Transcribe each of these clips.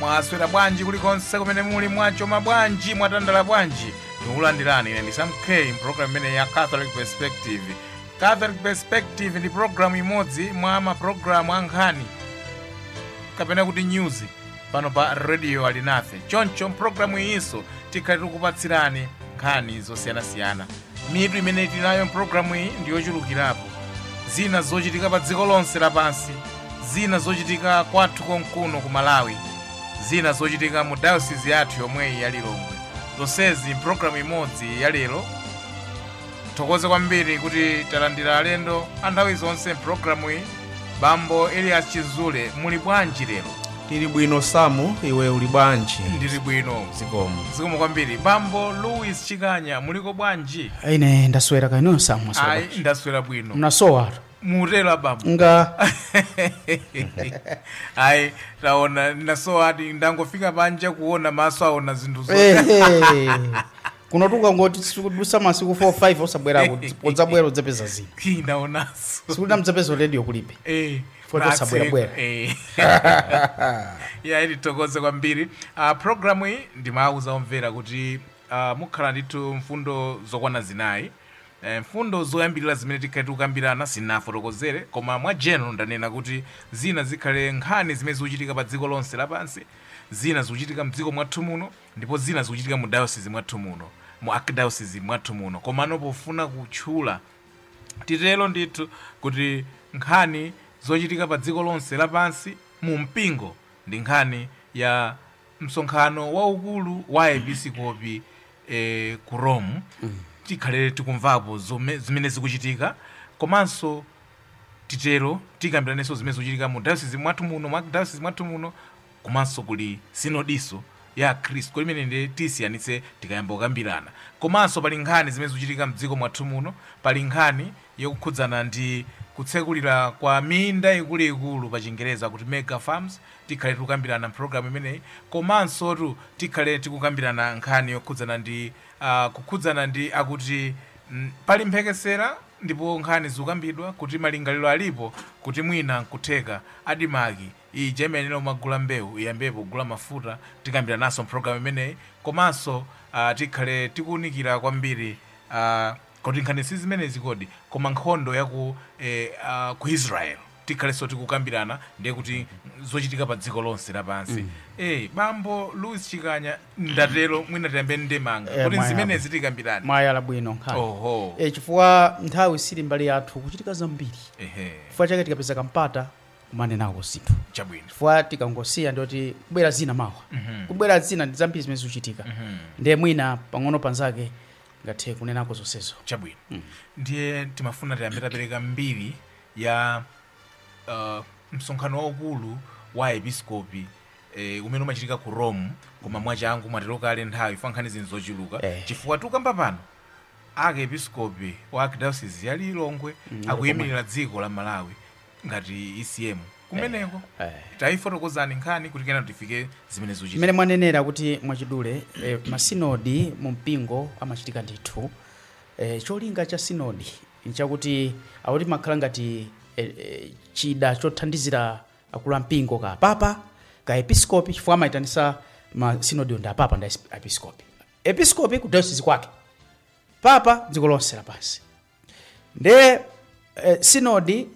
mwaswera bwanji kulikonse kumene muli mwachoma bwanji mwatandala bwanji tikulandirani ine ndi Sam K mpulogalamu imene ya catholic perspective catholic perspective ndi pulogalamu imodzi mwa mapulogalamu a nkhani kapena kuti news pano pa radio alinafe choncho mpulogalamu iyinso tikhale tikupatsirani nkhani zosiyanasiyana mitu imene tili nayo mpulogalamu iyi ndi yochulukirapo zina zochitika pa dziko lonse lapansi zina zochitika kwathu konkuno ku malawi zina zochitika mu dayosizi yathu yomwe iyi ya lilongwe zonsezi mpulogalamu imodzi ya lero thokoze kwambiri kuti talandira alendo a nthawi zonse mpulogalamu iyi bambo elias chizule muli bwanji lero tili bwino samu iwe uli bwanji ndili bwino zikomo zikomo kwambiri bambo louis chikanya muliko bwanji ine ndaswera kaya inu samu ayi ndaswera bwino munasowatu mutero bambo nga ayi taona ndasowadi ndangofika panja kuona maso aona zinthu zo Ehe. kuno tukangoti sikudutsa masiku 4 5 osabwera udzabwera udzapeza zina ndaonanso sikuti amadzapeza radio kulibe Eh, poti osabwera. Eh. ya ndithokoze kwambiri uh, programu iyi ndimawuza omvera kuti uh, mukhala ndithu mfundo zokwana zinayi Eh, mfundo zoyambirira zimene tikhale tikukambirana sinafotokozere koma mwa general ndanena kuti zina zikhale nkhani zimene zikuchitika pa dziko lonse lapansi zina zikuchitika mdziko mwathu muno ndipo zina zikuchitika mu dayosizi mwathu muno, mu arkidayosizi mwathu muno, komano pofuna kutchula, titero ndithu, kuti nkhani zochitika pa dziko lonse lapansi mu mpingo ndi nkhani ya msonkhano waukulu wa aepiskopi eh, ku rome tikhale tikumvapo zome- zimene zikuchitika komanso titero tikambiranenso zimene zikuchitika mu dayosizi mwathu muno mu dayosizi mwathu muno komanso kuli sinodinso ya akhristu koti imene ndiye tisiyanitse tikayamba kukambirana komanso pali nkhani zimene zikuchitika mdziko mwathu muno pali nkhani yokukhudzana ndi kutsegulira kwa minda ikuluikulu pa chingereza kuti mega farms tikhale tikukambirana mpulogalamu imeneyi komansotu tikhale tikukambirana nkhani yokhudzana ndi uh, kukhudzana ndi akuti mm, pali mphekesera ndipo nkhani zikukambidwa kuti malingaliro alipo kuti mwina nkutheka ADMARC ija imayenera kumagula mbewu iyambepo kugula mafuta tikambirananso mpologalamu imeneyi komanso ah, tikhale tikuwunikira kwambiri ah, kuti nkhani si zimenezi kodi koma nkhondo ya ku, eh, ah, ku israel tikhalenso tikukambirana ndiye kuti zochitika pa dziko lonse lapansi eh, bambo louis chikanya ndatero mwina tiyambe ndi ndemanga Eh, kuti mwayamba. zimenezi tikambirane mwayala bwino nkhani oho e, chifukwa nthawi sili mbali yathu kuchitika zambiri ehe chifukwa chake tikapeza kampata kumanenako zinthu chabwino chifukwa tikangosiya ndoti kubwera zina mawa kubwera zina ndi zambiri zimene zikuchitika ndiye mwina pang'ono panzake tingathe kunenako zonsezo chabwino ndiye timafuna tiyambe tapereka mbiri ya uh, msonkhano waukulu wa episkopi eh, umene umachitika ku Rome koma mwachangu mwatero kale nthawi chifukwa nkhani zinthu zochuluka Eh. chifukwa tikukamba pano arkiepiskopi wa archdiocese ya Lilongwe akuyimirira dziko la Malawi ngati ECM kumeneko eh. taifotokozani nkhani kuti kenaka tifike zimene zikuchitika mmene mwanenera kuti mwachidule eh, masinodi mu mpingo amachitika ndithu eh, cholinga cha sinodi nchakuti akuti imakhala ngati eh, eh, chida chothandizira akulu a mpingo kaya papa kaya episkopi chifukwa amayitanisa masinodi ndi apapa ndi episkopi episkopi ku diocese kwake papa dziko lonse lapansi nde eh, sinodi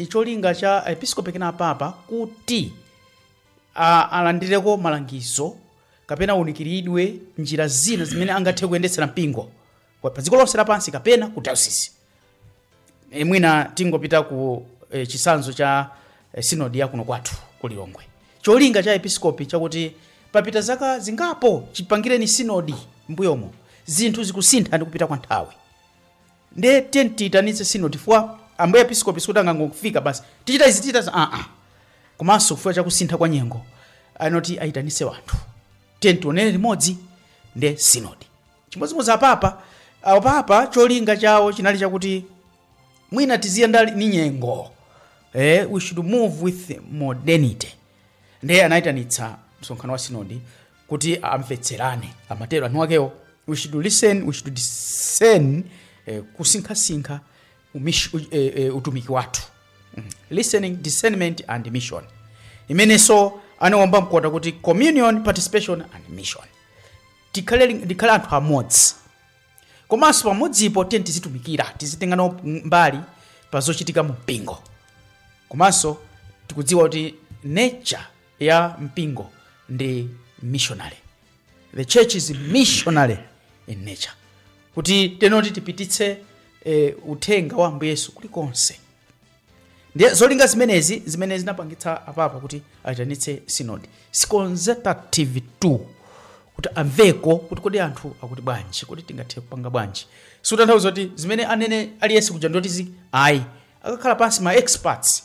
cholinga cha episkopi kapena papa kuti a- alandireko malangizo kapena aunikiridwe njira zina zimene angathe kuyendetsera mpingo kwa- pa dziko lonse lapansi kapena ku diocese e, mwina tingopita ku e, chisanzo cha e, sinodi ya kuno kwathu ku Lilongwe cholinga cha episkopi chakuti papita zaka zingapo chipangireni sinodi mbuyomo zinthu zikusintha ndi kupita kwa nthawi nde tiyeni tiyitanitse sinodi chifukwa ambuye episkopi sikuti angangofika basi tichita izi tichita za- aa komanso chifukwa chakusintha kwa nyengo anoti ayitanitse wanthu tiyeni tionere limodzi nde sinodi chimodzimodzi apapa apapa cholinga chawo chinali chakuti mwina tiziyenda ni nyengo eh, we should move with modernity ndiye anayitanitsa msonkhano wa sinodi kuti amvetserane amatero anthu akewo we should listen we should discern eh, kusinkhasinkha umish- u- eh, eh, utumiki wathu Mm. listening discernment and mission imenenso anawomba mkota kuti communion participation and mission tikhale li- tikhale anthu amodzi komanso pamodzipo tiyeni tizitumikira tizitenga nawo mbali pa zochitika mu mpingo komanso tikudziwa kuti nature ya mpingo ndi missionary the church is missionary in nature kuti tenoti tipititse eh, uthenga wa Ambuye Yesu kulikonse ndiye zolinga zimenezi zimene zinapangitsa apapa kuti ayitanitse sinodi si consultative tu kuti amveko kuti kodi anthu akuti bwanji kodi tingathe kupanga bwanji sikutanthauza kuti zimene anene aliyense kuja ndoti zi ayi akakhala pansi ma experts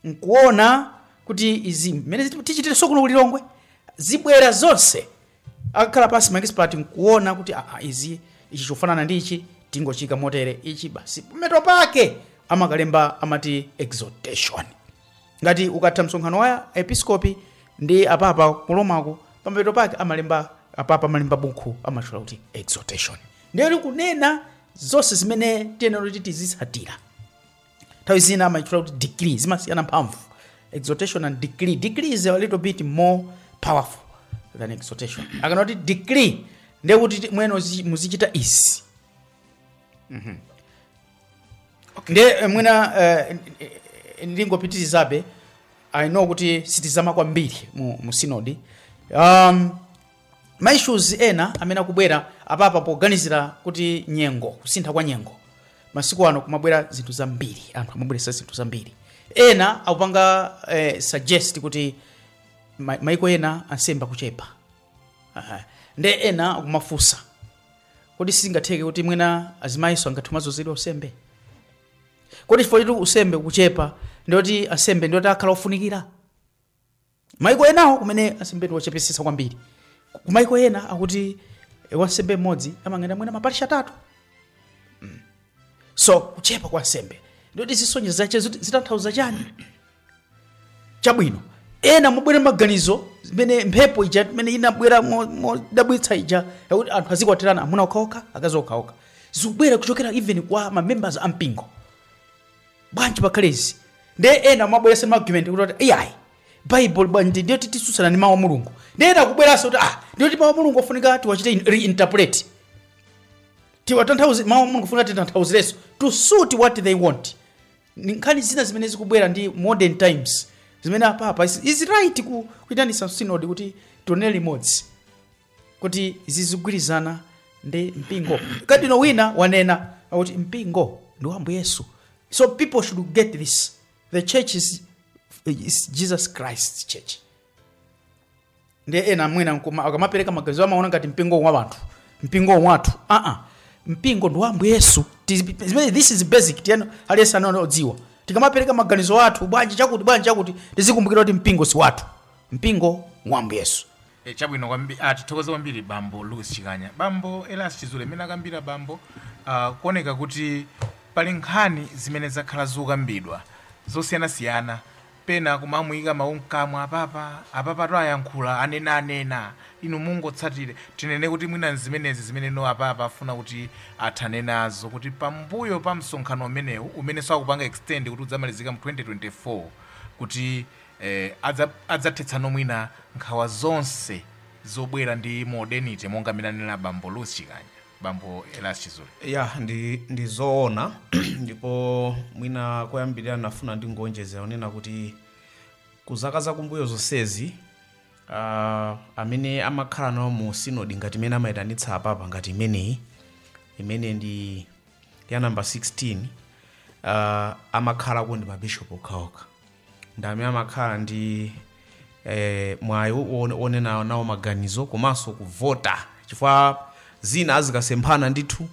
nkuona kuti izi mmene tichitira ifeso kuno ku lilongwe zibwera zonse akakhala pasi maekisipati nkuona kuti aa izi ichi chofanana ndi ichi tingochiika motere ichi basi pamapeto pake amakalemba amati exhortation ngati ukatha msonkhano wa episkopi ndi apapa ku romako pamapeto pake amalemba apapa amalemba buku amatchula kuti exhortation ndiyo ikunena zonse zimene tiyenera kuti tizitsatira nthawi zina amaitchula kuti decree zimasiyana mphamvu exhortation and decree decree is a little bit more powerful than exhortation akanena kuti decree ndiye kuti amwene uzi- muzichita izi Mhm. ndiye eh, mwina eh, eh, eh, ndingopitirizabe i know kuti sitizama kwambiri mu, mu sinodi um, ma issues ena amene akubwera apapa poganizira kuti nyengo kusintha kwa nyengo masiku ano kumabwera zinthu zambiri anthu amabweresa zinthu zambiri ena akupanga eh, suggest kuti ma- maiko ena ansembe akuchepa Aha. nde ena akumafunsa kodi sizingatheke kuti mwina azimayiso angathe kumazozedwa usembe kodi chifukwa choti usembe kuchepa ndiye kuti ansembe ndiye kuti akhala ofunikira maiko enawo kumene ansembe ndi ochepetsetsa kwambiri ku maiko ena akuti eh, wansembe mmodzi amangoyenda mwina maparishi atatu Mm. so kuchepa kwa ansembe nde kuti zisonyezo zache ziti- zitanthauza chani chabwino ena amabwera maganizo zimene mphepo ija imene inabwera mo- modabwitsa ija yakuti anthu azikwatirana amuna okhaokha akazi okhaokha zikubwera kuchokera even kwa mamembers a mpingo bwanji pakhale izi nde ena amabweresa ma argument kuti ati iyayi bible bwanji ndiye kuti tisutsana ndi mawu a mulungu nde ena akubweraso kuti ah ndiye kuti mawu a mulungu afunika tiwachite in- reinterpret tiwatanthauze mawu a mulungu afunika titanthauzireso to suit what they want Ni nkhani zina zimene zikubwera ndi modern times zimene apapa is, is right ku kuitanisa synod kuti tionere limodzi kuti zizigwirizana ndi mpingo kadinolo wina wanena kuti mpingo ndi wa ambuye yesu so people should get this the church is, is jesus christ church nde ena mwina nkuma- akamapereka maganizo amaona ngati mpingo wa wanthu mpingo wathu aa mpingo ndi wa ambuye yesu Tizi- zimene- this is basic tiyenera aliyense kudziwa tikamapereka maganizo athu bwanji chakuti bwanji chakuti tizikumbukira kuti mpingo si wathu mpingo wa ambuye yesu E, chabwino kwambiri, a, tithokoze kwambiri bambo Louis Chikanya. Bambo Elias Chizule, mmene akambira bambo, ah, kuoneka kuti pali nkhani zimene zakhala zikukambidwa zosiyanasiyana pena kumamuyika mawu mkamwa apapa apapa to ayankhula anena anena inu mungotsatire tinene kuti mwina nzimenezi zimene no apapa afuna kuti athane nazo kuti pambuyo pa msonkhano umenewu umene akupanga extend kuti udzamalizika mu 2024 kuti e Adzathetsanso mwina nkhawa zonse zobwera ndi modernity monga mmene anenera bambo Louis Chikanya, bambo Elias Chizule. Ya, ndi, ndi zoona ndipo mwina koyambirira ndinafuna ndingoonjezera onena kuti ku zaka zakumbuyo zonsezi ah, amene amakhala nawo mu sinodi ngati imene amayitanitsa apapa ngati imeneyi imene ndi ya namba 16 ah, amakhalako ndi mabishopu okhaokha ndamene amakhala ndi eh, mwayi wo- wonena nawo maganizo komanso kuvota chifukwa zina azikasemphana ndithu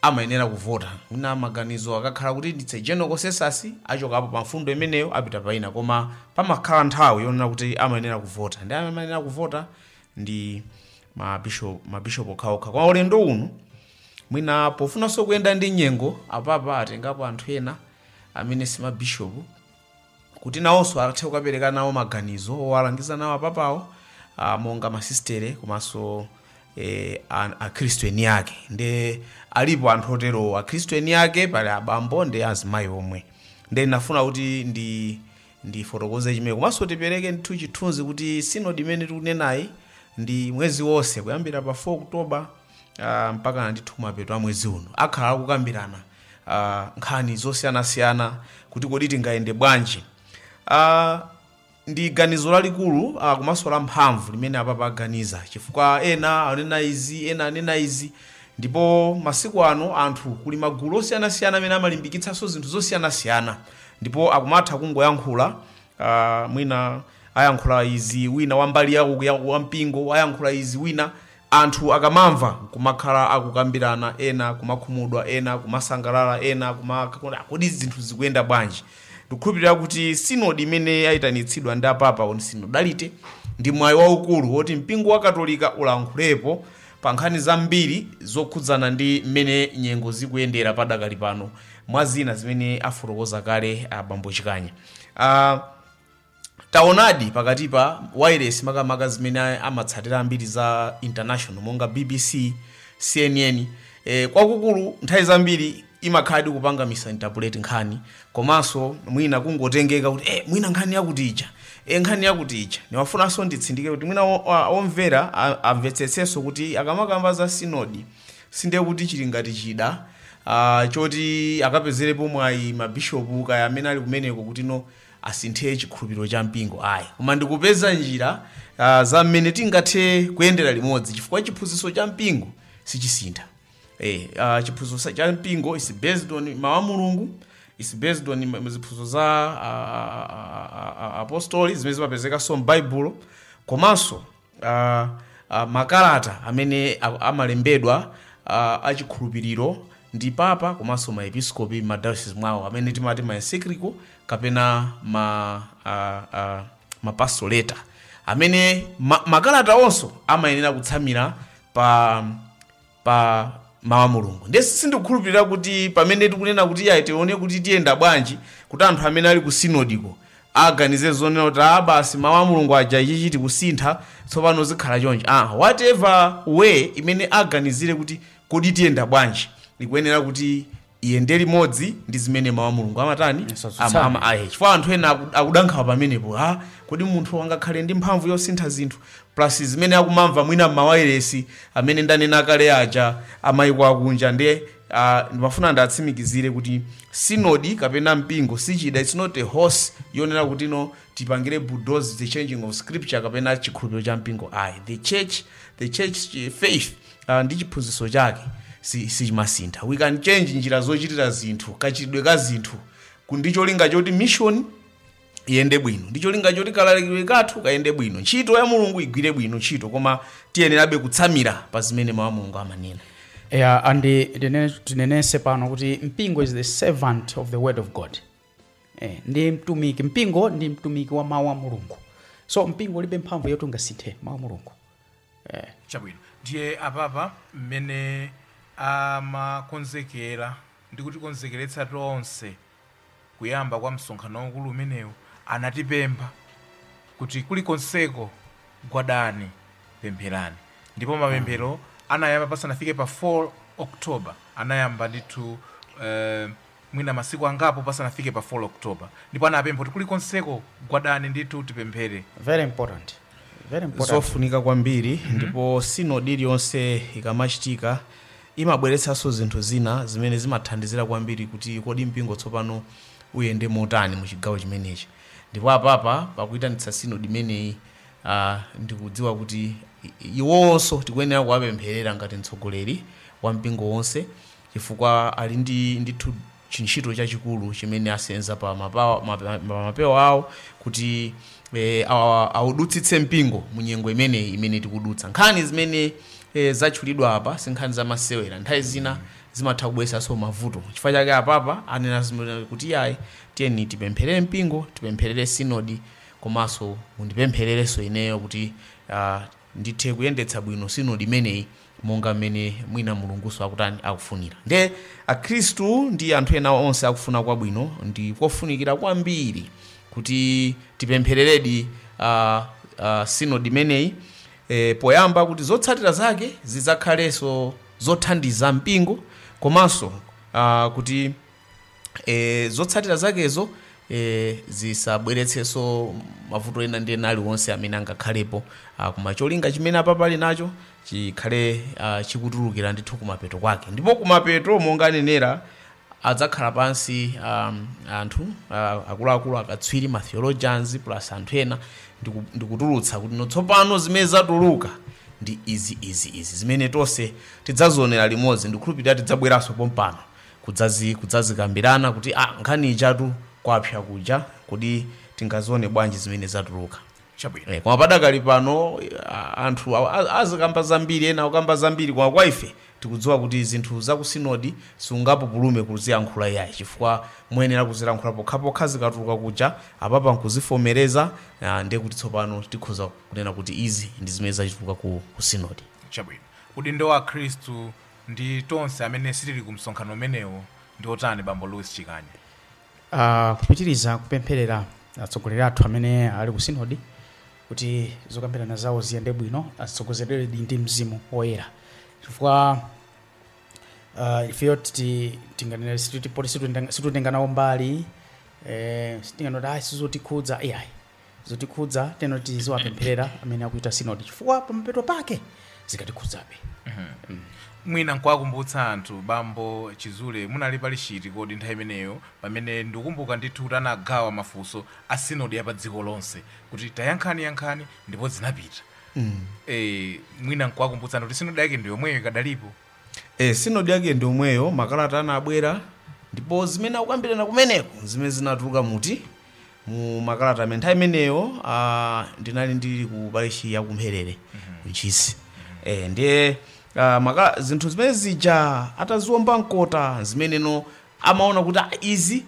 amayenera kuvota mwina maganizo akakhala kuti ndi general consensus achokapo pa mfundo imeneyo apita paina koma pamakhala nthawi yonena kuti amayenera kuvota ndi amene amayenera kuvota ndi mabishop mabishop okhaokha kwa ulendo uno mwina pofunanso kuyenda ndi nyengo apapa atengapo anthu ena amene si mabishopu kuti nawonso athe kukapereka nawo maganizo owalangiza nawo apapawo ah, monga masistere komanso eh, an- akhristu eni ake nde alipo anthu otero akhristu eni ake pali abambo ndi azimayi omwe nde ndinafuna kuti ndi ndifotokoze chimene komanso tipereke ndithu chithunzi kuti sinodi imene tikunenayi ndi mwezi wonse kuyambira pa 4 oktoba uh, mpaka ndithu kumapeto a mwezi uno akhala akukambirana uh, nkhani zosiyanasiyana kuti kodi tingayende bwanji uh, ndi ganizo lalikulu uh, komanso la mphamvu limene apapa aganiza chifukwa ena anena izi ena anena izi ndipo masiku ano anthu kuli magulu osiyanasiyana amene amalimbikitsanso zinthu zosiyanasiyana ndipo akumatha kungoyankhula uh, mwina ayankhula izi wina wambali yawo yawo wampingo ayankhula izi wina Anthu akamamva kumakhala akukambirana ena kumakhumudwa ena kumasangalala ena kumakhala kodi zinthu zikuyenda bwanji? Ndikukhulupirira kuti sinodi imene yaitanitsidwa ndi apapa on synodality ndi mwayi waukulu woti mpingo wa katolika ulankhulepo pa nkhani zambiri zokhudzana ndi mmene nyengo zikuyendera padakali pano mwa zina zimene afotokoza kale abambo Chikanya. taonadi pakati pa wireless makamaka zimene amatsatira ambiri za international monga bbc cnn e, kwakukulu nthawi zambiri imakhala ikupanga misinterpret nkhani komanso mwina kungotengeka kuti eh, mwina nkhani yakuti ija e, nkhani yakuti ija nimafunanso nditsindike kuti mwina o- a- omvera a- amvetsetsenso kuti akamakamba za sinodi sindiye kuti chili ngati chida ah, choti akapezerepo mwayi mabishopu kaya amene ali kumeneko kuti no asinthe chikhulupiriro cha mpingo ayi, koma ndi kupeza njira ah, za mmene tingathe kuyendera limodzi chifukwa chiphunzitso cha mpingo sichisintha. Eh, ah, chiphunzitso sa- cha mpingo is based on mawu a Mulungu is based on ma- ziphunzitso za ah, ah, ah, ah, apostoli zimene zimapezekanso m'Baibulo komanso uh, uh, makalata amene a- amalembedwa uh, achikhulupiriro ndi papa komanso maepiskopi madayosizi mwawo amene timati maencyclical kapena ma, uh, uh, mapastoral letter amene ma, makalata onsewo amayenera kutsamira pa pa mawu a mulungu ndiye sindikukhulupirira kuti pamene tikunena kuti ayi tione kuti tiyenda bwanji kuti anthu amene ali ku sinodiko aganize zonena kuti a basi mawu a mulungu aja ichi ichi tikusintha tsopano zikhala chonchi ah, whatever way imene aganizire kuti kodi tiyenda bwanji ikuyenera kuti iyende limodzi ndi zimene mawu a mulungu amatani Asatsutsane. Ama- ama- ayi. chifukwa anthu ena aku- akudankhawa pamenepo a kodi munthu angakhale ndi mphamvu yosintha zinthu plus zimene akumamva mwina m'mawayiresi amene ndanena kale aja a mayiko akunja ndiye ah, ndimafuna ndiwatsimikizire kuti sinodi kapena mpingo sichida its not a horse yonena kuti no tipangire bulldoze the changing of scripture kapena chikhulupiriro cha mpingo ayi the church the church eh, faith uh, ndi chiphunzitso chake si- sichimasintha si we can change njira zochitira zinthu kachitidwe ka zinthu ku- ndi cholinga choti mission iyende bwino ndi cholinga choti kalalikidwe kathu kayende bwino ntchito ya mulungu igwire bwino ntchito koma tiyenerabe kutsamira pa zimene mawu a mulungu amanena yeah, and eh, tinene- tinenese pano kuti mpingo is the servant of the word of god eh, ndi mtumiki mpingo ndi mtumiki wa mawu a mulungu so mpingo ulibe mphamvu yoti ungasinthe mawu a mulungu eh. chabwino ndiye apapa mmene amakonzekera ndi kutikonzekeretsa tonse kuyamba kwa msonkhano waukulu umenewu anatipempha kuti kulikonseko gwadani pempherani ndipo mapemphero anayamba pasanafike pa 4 october anayamba ndithu eh, mwina masiku angapo pasanafike pa 4 October ndipo anapempha kuti kulikonseko gwadani ndithu tipemphere. Very important. Very important. zofunika kwambiri ndipo sinodi iliyonse ikamachitika imabweretsanso zinthu zina zimene zimathandizira kwambiri kuti kodi mpingo tsopano uyende motani mu chigawo chimenechi ndipo a Papa pakuyitanitsa sinodi imeneyi ah, ndikudziwa kuti i- iwonso tikuyenera kuwapempherera ngati mtsogoleri wa mpingo wonse chifukwa ali ndi, ndithu chintchito chachikulu chimene asenza pa mapawa- mape- pa mapewa awo kuti eh, awa- awudutsitse mpingo mu nyengo imeneyi imene tikudutsa nkhani zimene eh, zatchulidwa apa si nkhani zamasewera nthawi zina zimatha kubweresanso mavuto chifukwa chake a Papa anena kuti iyayi tiyeni tipempherere mpingo tipempherere sinodi komanso mundipemphererenso ineyo kuti ah, ndithe kuyendetsa bwino sinodi imeneyi monga mmene mwina Mulungunso akutani, akufunira. Ndiye akhristu ndi anthu ena onse akufuna kwabwino ndi kofunikira kwambiri kuti tipemphereredi a, a, sinodi imeneyi e, poyamba kuti zotsatira zake zidzakhalenso zothandiza mpingo komanso a, kuti e, zotsatira zakezo e, zisabweretsenso mavuto ena ndi ena aliwonse amene angakhalepo ah, koma cholinga chimene a Papa ali nacho chikhale ah, chikutulukira ndithu kumapeto kwake ndipo kumapeto monga anenera adzakhala pansi um, anthu uh, akuluakulu akatswiri ma theologians plus anthu ena ndiku- ndikutulutsa kuti no tsopano zimene zatuluka ndi izi izi izi zimene tonse tidzazionera limodzi ndikhulupirira tidzabweranso pompano kudzazi kudzazikambirana kuti ah nkhani ijatu kwapsa kuja kodi tingazione bwanji zimene zatuluka chabwino Eh, koma padakali pano ah, anthu awa- a- azikamba zambiri ena akukamba zambiri koma kwa ife tikudziwa kuti zinthu za ku sinodi sungapupulume kuziyankhula iyayi chifukwa muyenera kuzilankhula pokhapokha zikatuluka kuja a Papa nkuzivomereza ah, ndiye kuti tsopano tikhoza kunena kuti izi ndi zimene zatuluka ku, ku sinodi chabwino udindo wa akhristu ndi tonse amene sitili ku msonkhano umenewo ndi wotani, Bambo Louis Chikanya? Ah, kupitiriza kupempherera atsogoleri athu amene ali ku sinodi kuti zokambirana zawo ziyende bwino atsogozedwedi ndi mzimu woyera chifukwa ah, ifeyo titi- tinganena sititi poti situtenga- situtenga nawo mbali eh, sitinganoti ayi sizotikhudza ai zotikhudza ndiyeno tiziwapempherera amene akuchita sinodi chifukwa pamapeto pake zikatikhudzabe mwina nkuwakumbutsa anthu Bambo Chizule munali pali chiti kodi nthawi imeneyo pamene ndikukumbuka ndithu kuti anagawa mafunso a sinodi ya pa dziko lonse kuti tayankhani yankhani ndipo zinapita mm. e, mwina nkuwakumbutsa anthu kuti sinodi yake ndi yomweyo ikadalipo Eh, sinodi yake ndi yomweyo makalata anabwera ndipo zimene akukambirana kumeneko zimene zinatuluka muti mu makalata amene nthawi imeneyo ah, ndinali ndili ku parishi ya kumpherere ku ntchisi eh, ndiye ah, makala, zinthu zimene zija ataziwomba mkota zimeneno amaona kuti ah, izi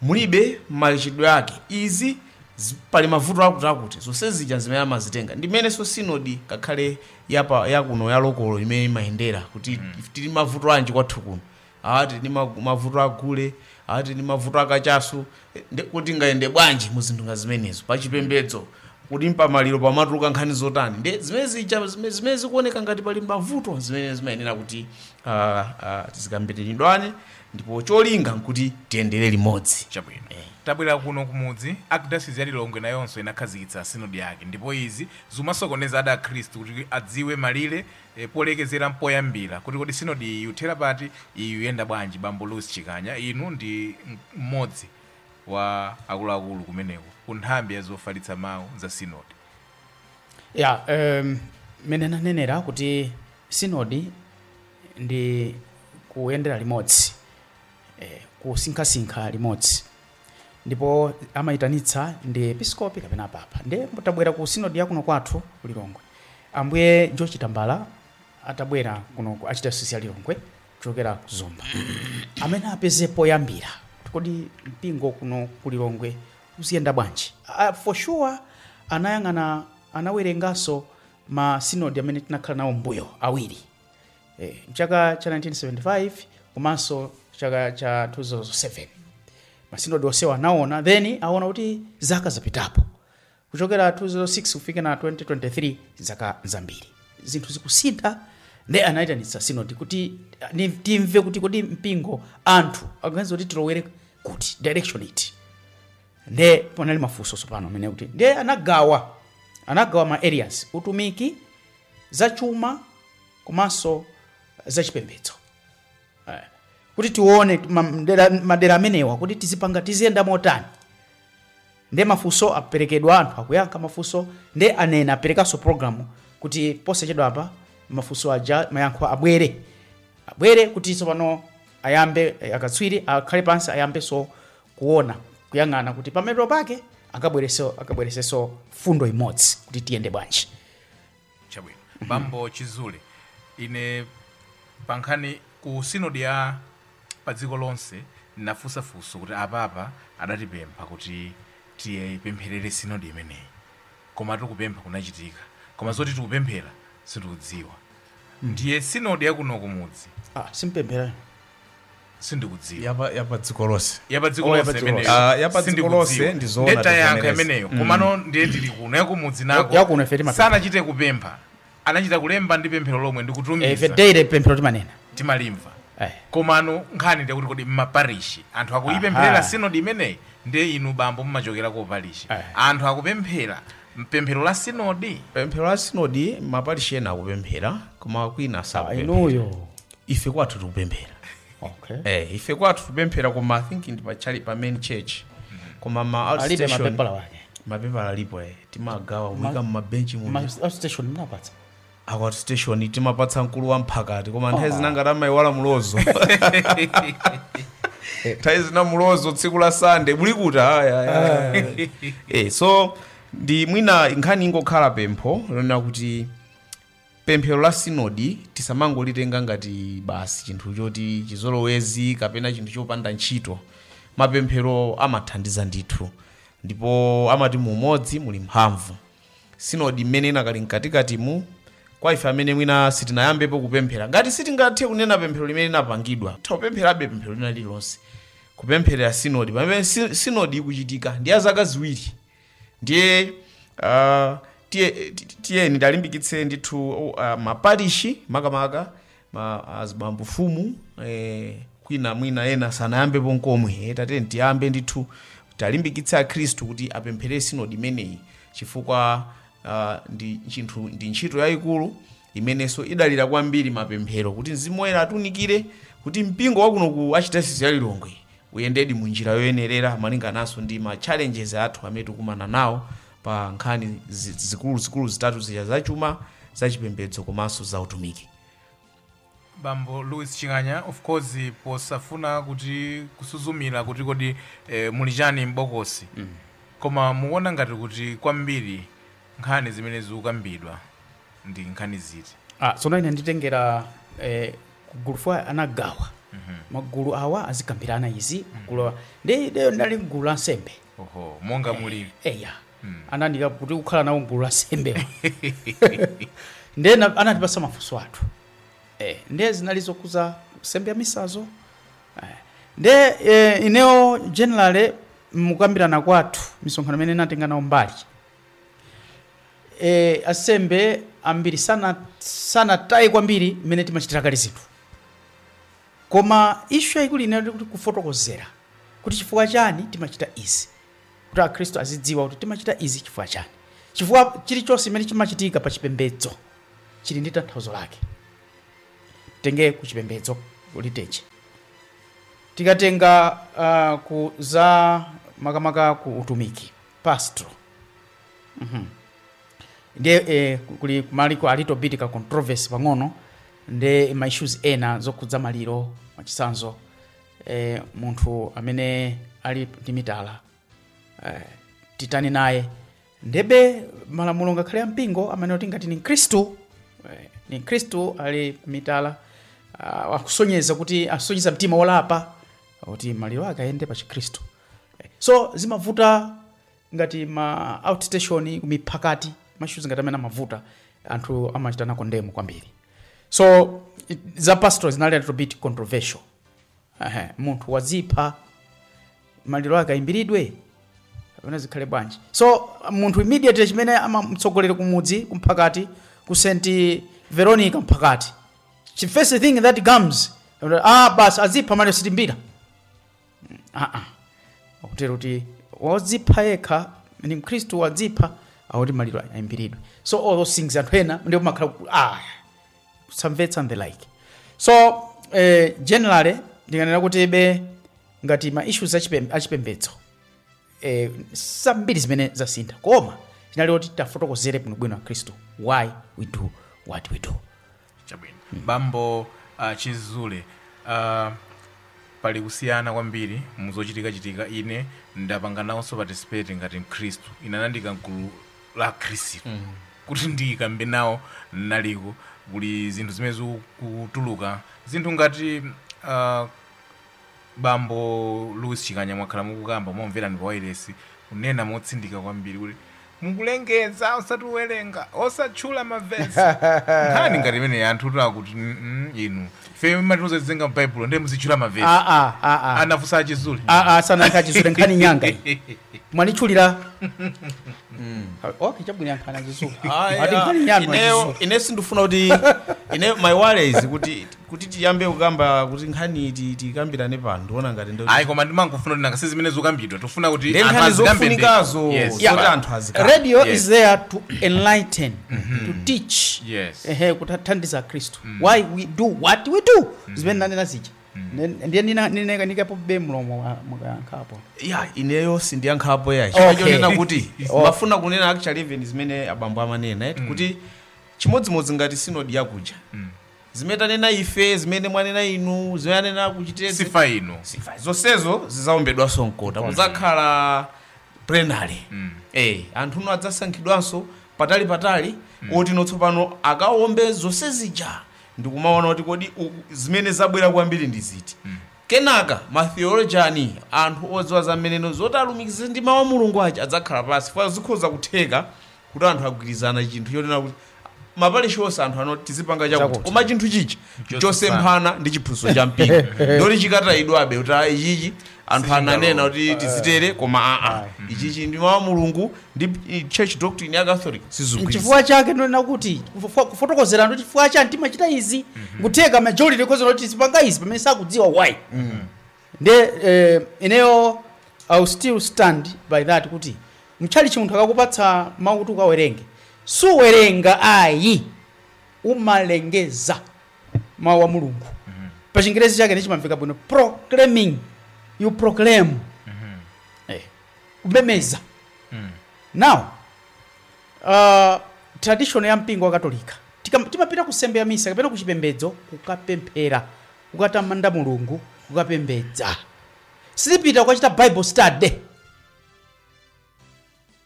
mulibe machitidwe ake, izi, zi, pali mavuto akuti akuti, zonse zija n'zimene amazitenga. Ndi mmenenso Synod ngakhale ya pa, ya kuno ya lokolo imene imayendera kuti if tili mavuto anji kwathu kuno, awa tili ndi ma- mavuto a gule, awa tili ndi mavuto a kachasu, eh, ndi kuti tingayende bwanji mu zinthu ngati zimenezo pa chipembedzo kuti mpamaliro pamatuluka nkhani zotani ndi zimene zija zimene zimene zikuoneka ngati pali mavuto zimene zimayenera kuti ah, ah, tikambirane ndipo cholinga nkuti tiyendere limodzi chabwino Eh. tabwera kuno kumudzi Archdiocese ya lilongwe nayonso inakhazikitsa sinodi yake ndipo izi zimasokoneza ena akhristu kuti adziwe malire eh, polekezera mpoyambira kuti kodi sinodi iyi yuthera pati iyi yuyenda bwanji bambo louis chikanya inu ndi m- mmodzi wa akuluakulu kumeneko ku nthambi ya zofalitsa mawu za sinodi ya um, mmene nanenera kuti sinodi ndi kuyendera limodzi eh, kusinkhasinkha limodzi ndipo amayitanitsa ndi episkopi kapena papa ndi tabwera ku sinodi yakuno kwathu ku lilongwe ambuye George Tambala atabwera kuno ku archdiocese ya lilongwe kuchokera ku zomba amati apeze poyambira kodi mpingo kuno ku lilongwe uziyenda bwanji uh, for sure anayang'ana anawerenganso ma sinodi amene tinakhala nawo mbuyo awiri eh, mchaka cha 1975 komanso chaka cha 2007 masinodi onsewa anaona then aona kuti zaka zapitapo kuchokera 2006 kufika na 2023 zaka zambiri zinthu zikusintha nde anayitanitsa sinodi kuti ah, ni- timve kuti kodi mpingo anthu akuganiza kuti tilowere kuti direction iti nde panali mafunso tsopano amene kuti nde anagawa anagawa ma areas utumiki zachuma komanso zachipembedzo eh, kuti tione madera amenewa kuti tizipanga tiziyenda motani nde mafunso aperekedwa anthu akuyankha mafunso nde anena aperekanso programu kuti posachedwa apa mafunso aja mayankho abwere abwere kuti tsopano ayambe eh, akatswiri akhale pansi ayambenso kuona kuyang'ana kuti pamapeto pake akabweretso akabweretsenso mfundo imodzi kuti tiyende bwanji chabwino bambo chizule ine pankhani ku sinodi ya pa dziko lonse ndinafunsa funso kuti apapa adatipempha kuti tiipempherere sinodi imeneyi koma tikupempha kunachitika koma zoti tikupemphera sindikudziwa ndiye sinodi yakuno kumudzi ah simpemphera sindikudziwa yapa yapa dziko lonse yapadziko Oh, lonse yapadziko imeneyo. lonse. Ah, yapadziko Sindikudziwa. lonse ndi zoona Ndeta yankha tivomereze. imeneyo Mm. komano ndiye tili kuno yakumudzi nako Yakuno ife timapempha. sanachite kupempha anachita kulemba ndi pemphero lomwe Eh, ife ndikutumiza daily pemphero timanena timalimva Eh. komano nkhani ndi yakuti kodi mmaparishi anthu akuyipempherera Aha. sinodi imeneyi ndiye inu bambo mumachokera ku parishi Eh. anthu akupemphera pemphero la sinodi pemphero la sinodi maparishi ena akupemphera koma kwina sakupemphera inuyo ife kwathu tikupemphera okay. eh, ife kwathu tikupemphera koma i think ndi pa tchalitchi pa main church koma ma alibe outstation mapepala wake mapepala alipo eh, timagawa kuika mumabenchi mu Ma- outstation mnapatsa aku outstation timapatsa mkulu wa mphakati koma nthawi zina ngati amayiwala mulozo nthawi zina mulozo tsiku la sande muli kuti aya, aya, aya. eh, so ndi mwina nkhani ingokhala pempho lonena kuti pemphero la sinodi tisamangolitenga ngati basi chinthu choti chizolowezi kapena chinthu chopanda ntchito mapemphero amathandiza ndithu ndipo amati mu umodzi muli mphamvu sinodi mmene inakali mkatikatimu kwa ife amene mwina sitinayambepo kupemphera ngati sitingathe kunena pemphero limene linapangidwa tapempherabe pemphero lina lililonse kupempherera sinodi pamene si- sinodi ikuchitika ndi ya zaka ziwiri ndiye uh, tiye- ti- ti- tiyeni tiwalimbikitse ndithu uh, maparishi makamaka ma azibambo fumu eh, kwina mwina ena sanayambepo nkomwe eh, tatiyeni tiyambe ndithu tiwalimbikitse akhristu kuti apempherere sinodi imeneyi chifukwa uh, ndi chinthu ndi ntchito yayikulu imenenso ikudalira kwambiri mapemphero kuti mzimu woyera atunikire kuti mpingo wakuno ku archdiocese ya lilongwe uyendedi mu njira yoyenerera malingananso ndi ma challenges athu amene tikukumana nawo pa nkhani zi- zikuluzikulu zitatu zija zachuma zachipembedzo komanso za utumiki bambo louis ching'anya of course posafuna kuti kusuzumira kuti kodi eh, muli chani m'bokosi mm. koma mukuona ngati kuti kwambiri nkhani zimene zikukambidwa ndi nkhani ziti Ah, tsono ine nditengera eh, ku gulu chifukwa anagawa magulu awa azikambirana izi magulu awa ndiye ineyo ndinali mgulu la nsembe oho monga mulili eya anandiika kuti kukhala nawo mgulu la nsembe ndiye na- anatipatsa mafunso athu eh, ndiye zinali zokhudza nsembe ya misa izo eh, ndiye eh, ineyo generally mukambirana kwathu misonkhano imene ndatenga nawo mbali e, ansembe ambiri sana sanataye kwambiri mmene timachitira kale zinthu koma ishu yayikulu inali kuti kufotokozera kuti chifukwa chani timachita izi kuti akhristu azidziwa kuti timachita izi chifukwa chani chifukwa chilichonse chimene chimachitika pa chipembedzo chili ndi tanthauzo lake titenge ku chipembedzo liturgy tikatenga uh, ku za makamaka ku utumiki pastoral Mhm. ndiye eh, kuli kumaliro a little bit ka controversy pang'ono ndi ma issues ena zokhudza maliro mwachitsanzo eh, munthu amene ali ndi mitala eh, titani naye ndiye be malamulo ngakhale a mpingo amanena kuti ngati ndi mkhristu eh, ndi mkhristu ali mitala ah, akusonyeza kuti asonyeza mtima wolapa kuti maliro ake ayende pa chikhristu so zimavuta ngati ma outstation kumiphakati ma issues ngati amenewa amavuta anthu amachita nawo condemn kwambiri so it- za pastoral zinali a little bit controversial Ehe, munthu wadzipha maliro ake ayimbiridwe kapena zikhale bwanji so munthu immediately chimene amamtsogolera kumudzi kumphakati ku st veronica mphakati the first thing that comes ah basi wadzipha maliro sitiyimbira aa akutero kuti wodzipha yekha ndi mkhristu wadzipha akuti maliro ayimbiridwe so all those things anthu ena ndikumakhala ku- ah, kusamvetsa and the like so eh, generally ndinganena kuti be ngati ma issues achipem- achipembedzo eh, zambiri zimene sizasintha koma chinali kuti tafotokozere bwinobwino akhristu why we do what we do chabwino bambo uh, chizule uh, pali kusiyana kwambiri muzochitika chitika ine ndapanga nawonso participate ngati mkhristu inenso anandiika mgulu la akhristu kuti ndikambe nawo naliko kuli zinthu zimene zikutuluka zinthu ngati uh, Bambo Louis Chikanya mwakhala mukukamba timakumverani pa wailesi kunena motsindika kwambiri kuti mukulengeza osati kuwerenga osatchula mavesi nkhani ngati imeneyi anthutu akuti "Mm, mm, inu ife mumatiuza tiziwerenga m'baibulo ndiye muzitchula mavesi Ah, ah, ah, ah. anafunsa a Chizule Ah, ah, sanayankhe chizule nkhani ndi yanga iyi. mwalitchulira okay chabwino yankhani a chizule Ayi, ati ah, nkhani ndi yanga ineyo- ine sindifuna kuti ine my worry is kuti Kuti tiyambe kukamba kuti nkhani iti tikambirane pano ndiona ngati ndo ayi koma ndimangofuna kuti nanga si zimene zokambidwa tofuna kuti Ndi anthu nkhani azikambe ndi- zofunikazo Yes. Yeah. zoti anthu azikamba. radio Yes. is there to enlighten to teach Yes. ehe kuthandiza akhristu why we do what we do zimene nanena zija ndiye ndiikapobe mlomo wa- mukayankhapo ya ineyo sindiyankhapo yayi Okay. chifukwa chonena kuti Oh. ndimafuna kunena actually even zimene abambo amanena eti kuti chimodzimodzi ngati sinodi yakuja zimene tanena ife zimene mwanena inu zimene anena akuchitire CFM uko CFM zonsezo zidzaombedwanso mkota kudzakhala plenary Mm. eh anthu ano adzasankhidwanso patali patali oti no tsopano akaombe zonse zija ndikumaona kuti kodi u- zimene zabwera kwambiri ndi ziti kenaka matheolojani anthu odziwa zimenezo zoti alumikize ndi mawu a mulungu aja adzakhala pansi chifukwa zikhoza kutheka kuti anthu agwirizana chinthu chonena kuti maparish onse anthu anati tizipanga chakuti Chakuti. koma chinthu chichi chosemphana ndi chiphunzitso cha mpingo ndoti chikatayidwabe kuti "Ah, ichichi anthu ananena kuti tizitere koma aa ichichi ndi mawu a mulungu ndi i- church doctrine ya catholic sizikugwirizana nchifukwa chake ndonena kuti kufo- kufotokozera ndi chifukwa chani timachita izi nkutheka majority ikuti tizipanga izi pamene sakudziwa why Nde eh, ineyo I'll still stand by that kuti mtchalitchi munthu akakupatsa mawu kuti ukawerenge suwerenga ayi umalengeza mawu a mulungu pa chingerezi chake nde chimamveka bwino proclaiming you proclaim eh, kulengeza now uh, tradition ya mpingo wa katolika Tika- timapita ku nsembe ya misa kapena ku chipembedzo kukapemphera kukatamanda mulungu kukapembedza sitipita kukachita bible study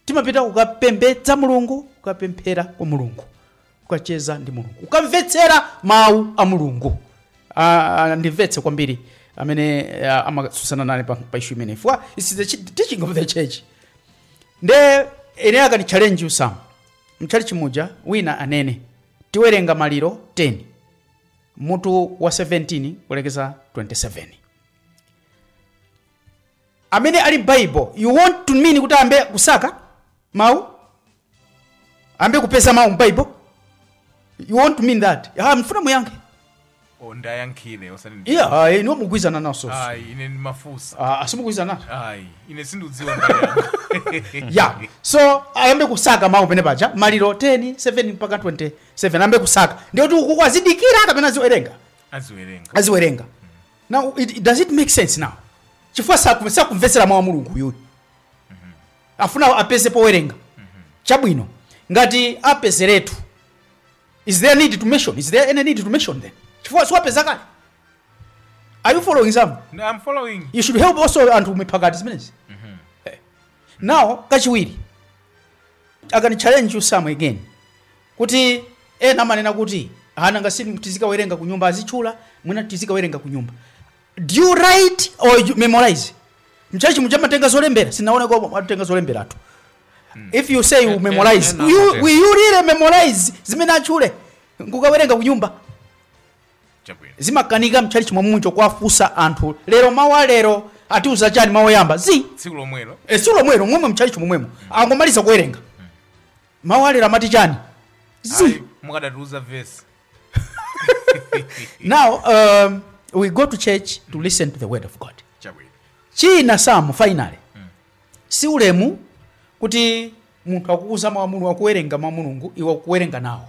timapita kukapembedza mulungu kukapemphera kwa mulungu kukacheza ndi mulungu kukamvetsera mawu a mulungu Ah, ah, ndimvetse kwambiri amene ah, amatsutsana nane pa, pa ishu imeneyi chifukwa it's the chi- teaching of the church nde ine akandi challenge kuti mtchalitchi muja wina anene tiwerenga Maliko 10 mutu wa 17 kulekeza 27 amene ali ndi bible you want to mean kuti ayambe kusaka mawu ayambe kupeza mawu mbible you want to mean that ah, ndifuna muyankhe o mundiyankhire osati ndi- iya ah, inu mugwirizana nazo ayi ine ndimafunsa ah, simugwirizana nazo ayi ine sindikudziwa ndayankho ya so ayambe kusaka mawu penepaja Maliko 10 17 mpaka 20 ayambe kusaka ndiye kuti ukuku azidikira kapena aziwerenga aziwerenga aziwerenga now it, it- does it make sense now chifukwa saku- sakumvetsera mawu a mulungu uyuyu afuna apeze powerenga chabwino ngati apezeretu is there need to mention is there any need to mention then chifukwa si wapeza kale are you following some No, i'm following you should help also anthu mipakati zimenezi Eh. now kachiwiri a- can I challenge you once again kuti ena amanena kuti nanga si tizikawerenga kunyumba azitchula mwina tizikawerenga kunyumba do you write or you memorize mtchalitchi muja amatenga zolembera sinaona atatenga zolembera tu if you say you Eh, memorize eh, eh, you, nakutenga. will you really memorize zimene atchule n'kukawerenga kunyumba chabwino zimakanika mtchalitchi mwamunjo kuwafunsa anthu lero mawu a lero atiuza chani mawu oyamba zi tsiku lomwelo e, tsiku lomwelo momwe mtchalitchi momwemo angomaliza kuwerenga mawu a lero amati chani zi Ayi, mukadatiuza vesi now um, we go to church to listen to the word of god chabwino chinanso finally si ulemu kuti munthu akukuuza mawu a mulungu akuwerenga mawu a mulungu iwe n'kuwerenga nawo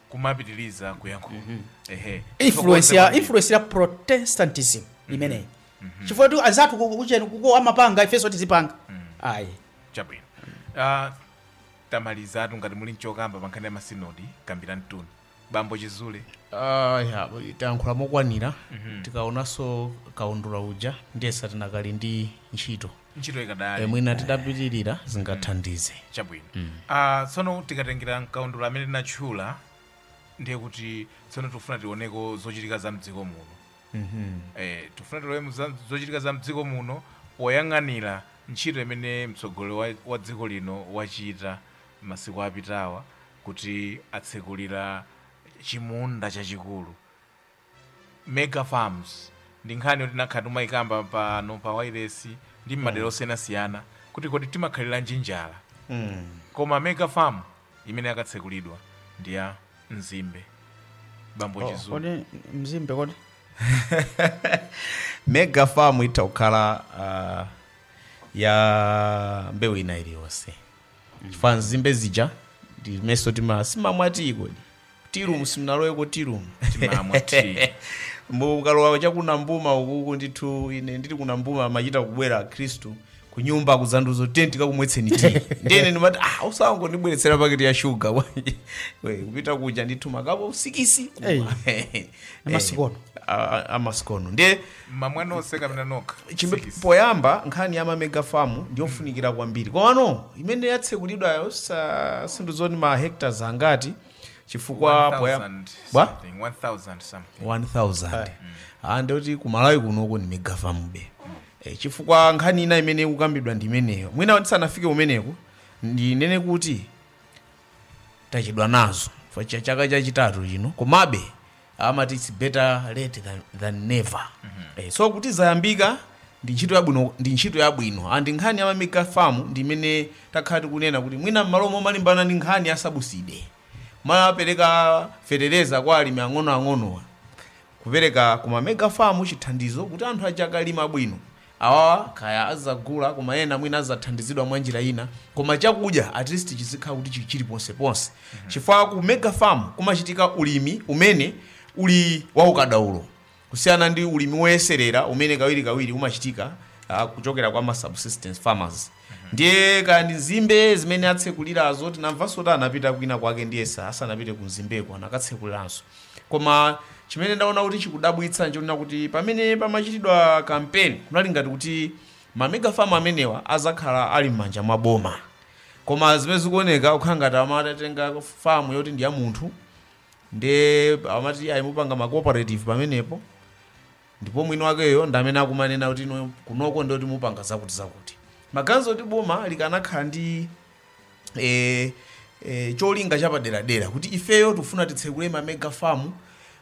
kumapitiliza kuyankhula ehe influence ya Thokoza influence ya protestantism imeneyi chifukwa tu anzathu ku- kucheni kuko amapanga ifenso tizipanga ayi chabwino Ah, tamalizatu ngati muli nchokamba pankhani ya masinodi kambiranituni bambo chizulu Ah, ya, tayankhula mokwanira tikaonanso kaundula uja ndiyesa tikadali ndi ntchito ntchito Eh, ikadali mwina titapitirira zingathandize chabwino Ah, tsono tikatengera mkaundula amene tinatchula ndiye kuti tsono tikufuna tioneko zochitika za mdziko muno eh, tikufuna tione za- zochitika za mdziko muno poyang'anira ntchito imene mtsogoleri wa, wa dziko lino wachita masiku apitawa kuti atsekulira chimunda chachikulu mega farms ndi nkhani yoti takhala timayikamba pano pa wailesi ndi mmadera osiyanasiyana kuti kodi timakhaliranji njala koma mega farm imene yakatsekulidwa ndi ya nzimbe bambo Oh, chizulu kodi nzimbe kodi mega farm itha kukhala uh, ya mbewu ina iliyonse chifukwa nzimbe zija ndimayesa tima- simumamwa tiyi kodi tirumu simunaloweko tirumu Timamwa tea. mukalowa chaku nambuma ukuku ndithu ine ndili ku nambuma amachita kubwera akhristu kunyumba kudzandiuza tiyeni tikakumwetseni tiyi ndiye ine ndimati ah osangondibweretsera paketi ya shuga bwanji We, kupita kuja ndithu makapo sikisi Hey. Amasikono. amasikono ndiye mmamwa nonse kapena nokha Chimbe- Sikisi. poyamba nkhani ya mamega famu ndiyofunikira kwambiri komano imene yatsekulidwayo sindidziwa ndi ma hectares angati chifukwa 1000 poyamba something, 1000 something 1000 ande kuti kumalawi kunoko ni mega famu be Eh, chifukwa nkhani ina imene ikukambidwa ndi imeneyo mwina tisanafike kumeneko ndinene kuti tachedwa nazo Fa- cha- chaka chachitatu chino komabe amati its better late than, than never eh, so kuti zayambika ndi ntchito yabwino ndi ntchito yabwino and nkhani ya mamega farm ndi imene takhala tikunena kuti mwina mmalo momalimbana ndi nkhani ya sabuside kumapereka fetereza kwa alimi ang'onoang'onowa kupereka kuma mega farm chithandizo kuti anthu akakalima bwino Awawa kaya azagula koma ena mwina azathandizidwa mwanjira ina koma chakudya at least chizikhala kuti chili ponseponse chifukwa ku mega farm kumachitika ulimi umene uli waukadaulo kusiyana ndi ulimi woyeserera umene kawirikawiri umachitika ah, kuchokera kwa ma subsistence farmers. ndiye kaya ndi Mzimba zimene atsekulirazo tinamvanso kuti anapita kwina kwake ndiyesa asanapite ku Mzimbako anakatsekuliranso koma chimene ndaona kuti chikudabwitsa nchonena kuti pamene pamachitidwa kampeni kunali ngati kuti mamegafamu amenewa azakhala ali m'manja mwa boma koma zimene zikuoneka kukhala ngati amatenga famu yoti ndi ya munthu nde amati ayi mupanga ma cooperative pamenepo Ndipo mwini wakeyo ndi amene akumanena kuti inu kunoko ndiye kuti mupanga zakuti zakuti. Maganizo oti boma likanakhala ndi e, e, cholinga chapaderadera kuti ifeyo tikufuna titsekule ma mega farm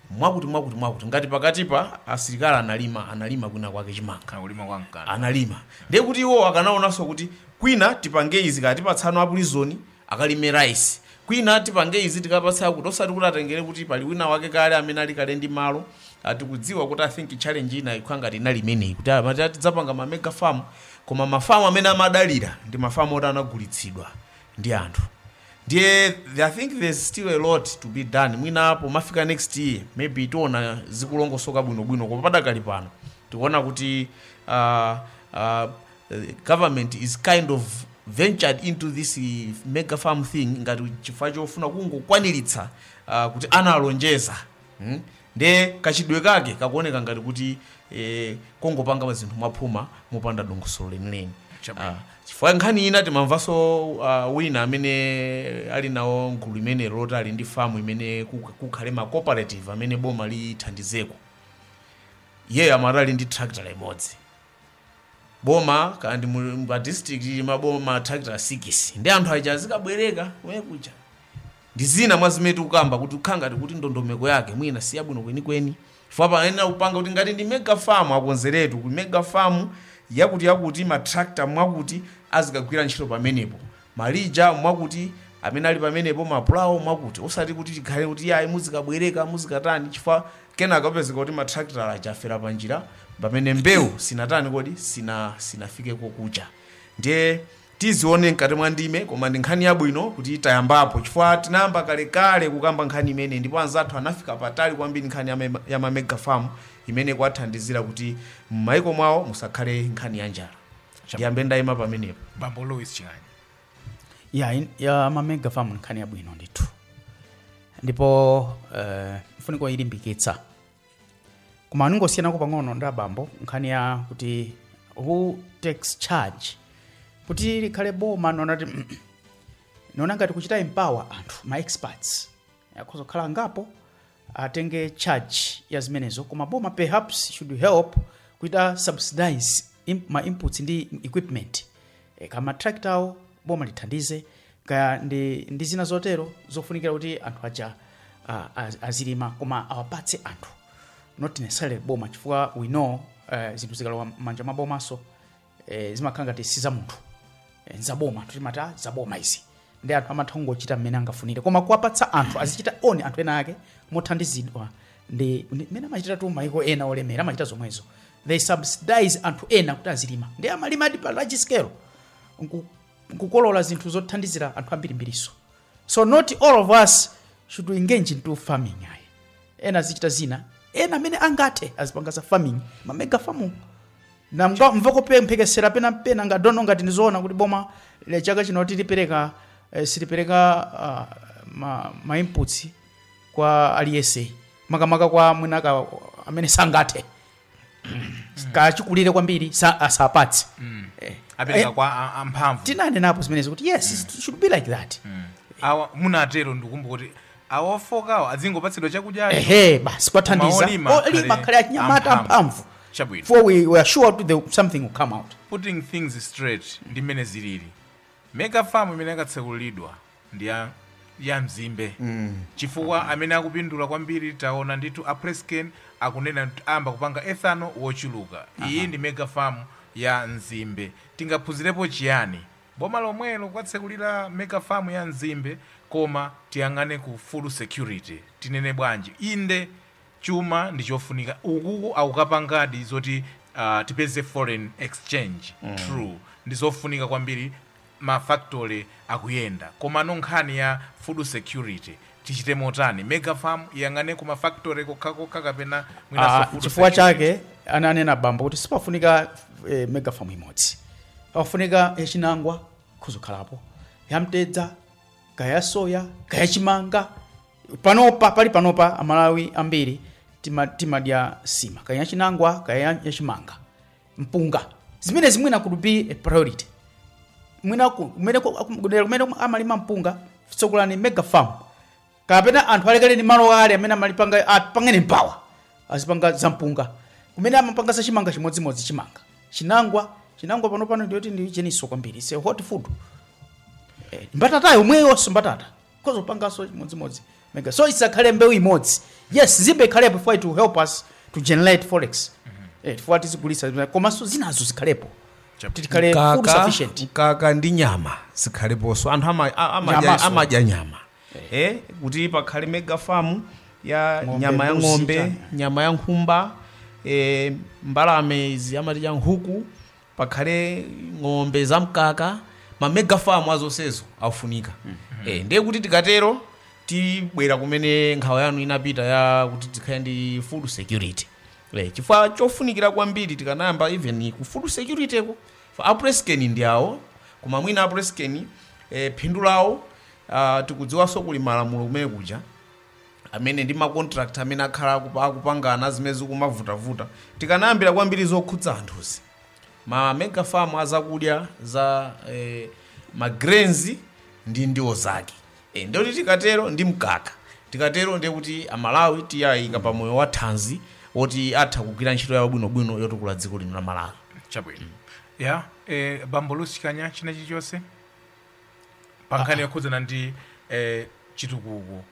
mwakuti mwakuti mwakuti ngati pakatipa asilikali analima analima kwina kwake chimanga kana kulima kwa mkanda analima ndiye kuti iwo akanaonanso kuti kwina tipange izi kaya tipatsano apulizoni akalime rice kwina tipange izi tikapatse akuti osati kuti atengere kuti pali wina wake kale amene ali kale ndi malo Ah, tikudziwa kuti i think challenge ina ikhala ngati inali imeneyi kuti amati tidzapanga ma mega farm koma mafamu amene amadalira ndi mafamu oti anagulitsidwa ndi anthu ndiye i think there's still a lot to be done mwina pomafika next year maybe tiona zikulongosoka bwinobwino koma padakali pano tikuona kuti uh, uh, the government is kind of ventured into this mega farm thing ngati chifukwa chofuna kungokwaniritsa uh, kuti analonjeza hmm? nde kachitidwe kake kakuoneka ngati kuti eh, kongopanga zinthu mwaphuma mopanda dongosolo lenileni Chabwino. Ah, chifukwa nkhani ina timamvanso uh, wina amene ali nawo m'gulu limeneli loti ali ndi famu imene kuk- kukhale ma cooperative amene boma lithandizeko iyeyo amati ali ndi tractor imodzi boma kaya ndi pa district m'maboma matrakita sikisi ndi anthu aja azikabwereka kumene kuja ndi zina mwa zimene tikukamba kuti kukhala ngati kuti ndondomeko yake mwina si yabwino kwenikweni chifukwa panayenera kupanga kuti ngati ndi mega farm akonzeretu ku mega farm yakuti yakuti matrakita mwakuti azikagwira ntchito pamenepo malija mwakuti, amene ali pamenepo, mapulawo mwakuti. Osati kuti tikhale kuti iyayi muzikabwereka, muzikatani, chifukwa kenaka kupezeka kuti matrakita aja afera panjira pamene mbewu sinatani kodi sina sinafike kokucha ndiye tizione mkati mwa ndime koma ndi nkhani yabwino kuti tayambapo chifukwa tinayamba kalekale kukamba nkhani imene ndipo anzathu anafika patali kwambiri nkhani ya mema- ya mamega farm imene kwathandizira kuti m'maiko mwawo musakhale nkhani ya njala ndiyambe ndayima pamenepo bambo louis chilani ya, in- ya mamega farm nkhani yabwino ndithu ndipo uh, nkofunika kuilimbikitsa koma ndingosiyanako pang'ono ndi abambo nkhani ya kuti who takes charge kuti likhale boma no not ndiona ngati kuchita empower anthu ma experts akhoza kukhala angapo atenge charge ya zimenezo koma boma perhaps should help kuchita subsidize im, ma inputs ndi equipment e, ngati ma tractor awo boma lithandize kaya ndi, ndi zina zotero zofunikira kuti anthu aja uh, az, azilima, koma awapatse anthu not necessarily boma chifukwa we know uh, zinthu zikalowa m'manja mwa bomanso eh, zimakhala ngati si za munthu eh, nzaboma timati "Ah, zaboma izi ndi anthu amatha kungochita mmene angafunire koma kuwapatsa anthu azichita own anthu ena ake mothandizidwa ndi ndi- mmene amachitatu maiko ena olemera amachita zomwezo they subsidize anthu ena kuti azilima ndi amalimadi pa large scale nku- n'kukolola zinthu zothandizira anthu ambirimbiriso so not all of us should engage into farming ayi ena azichita zina ena amene angathe azipanga za farming mamega farming na mka- mva kumphekesera pena pena I don't know ngati ndizoona kuti boma lathu chaka chino tilipereka eh, silipereka ah, ma, ma inputs kwa aliyese makamaka kwa mwinaka amene sangathe achikulire kwambiri sa, asapatse Eh, apereka eh, kwa a- amphamvu tinanenapo zimenezo kuti yes it should be like that awa munatero ndikumbuka kuti awa ofokawo adzingopatsidwa chakudyacho ehe basi kuwathandiza Koma olima akhale akhale achinyamata amphamvu. amphamvu Chabwino. for we are sure kuti the- something will come out putting things straight ndi mmene zilili mega farm imene akatsekuliridwa ndi ya ya mzimbe chifukwa amene akupindula kwambiri taona ndithu a PressCane akunena kuti ayamba kupanga ethanol wochuluka iyi ndi mega farm ya mzimbe tingaphunzirepo chiyani boma lomwelo kuwatsekulira mega farm ya mzimbe koma tiyang'ane ku food security tinene bwanji inde chuma ndi chofunika ukoko akukapangadi zoti uh, tipeze foreign exchange mm. true ndi zofunika kwambiri ma factory akuyenda komano nkhani ya food security tichite motani mega farm iyang'ane ku ma factory kokhakokha kapena mwinanso Ah, food chifukwa security. chake ananena bambo kuti sipafunika eh, mega farm imodzi pafunika yachinangwa kudzakhalapo yamtedza kaya soya kaya chimanga panopa pali panopa amalawi ambiri tima- timadya nsima kaya yachinangwa kaya yachimanga mpunga zimenezi mwina could be a priority mwina ku- kumene ku- akum- kudera kumene amalima mpunga tsegulani mega farm kapena anthu alekale ni malo ale amene amalipanga apange mphamvu azipanga za mpunga kumene amapanga za chimanga chimodzimodzi chimanga chinangwa chinangwa pano pano ndiye kuti ndi cheninso kwambiri it's a hot food Eh, mbatata yomweyonso mbatata kudzapanganso chimodzimodzi mega so isakhale mbewu imodzi yes zimbe zikhalepo for it to help us to generate forex eh for it tizigulitsa komanso zinazo zikhalepo tikhale food Mkaka- sufficient mkaka ndi nyama zikhaleponso anthu ama- a- amadya- Nyamanso. amadya nyama eh kuti pakhale mega farm ya Ng'ombe, nyama ya mbuzi, ng'ombe chani. nyama ya nkhumba eh, mbalame izi amati nkhuku pakhale ng'ombe za mkaka ma mega farm a zonsezo akufunika eh ndiye kuti tikatero tibwera kumene nkhawa yanu inapita ya kuti tikhale ndi food security eh chifukwa chofunikira kwambiri tikanayamba even ku food security ko for a Press Cane ndi awo koma mwina a Press Cane eh phindu lawo ah, tikudziwanso kuli malamulo kumene kuja amene ndi ma contract amene akhala akupa- akupangana zimene zikumavutavuta tikanayambira kwambiri zokhudza anthuzi ma mega farm azakudya za eh, ma grains ndi ndiwo zake e, ndiye kuti tikatero ndi mkaka tikatero ndiye kuti amalawi tiwayika pa moyo wa thanzi woti atha kugwira ntchito yawo bwinobwino yotukula dziko lino la malawi chabwino ya eh, bambo lusikanya china chilichonse pankhani yokhudzana ndi eh, chitukuko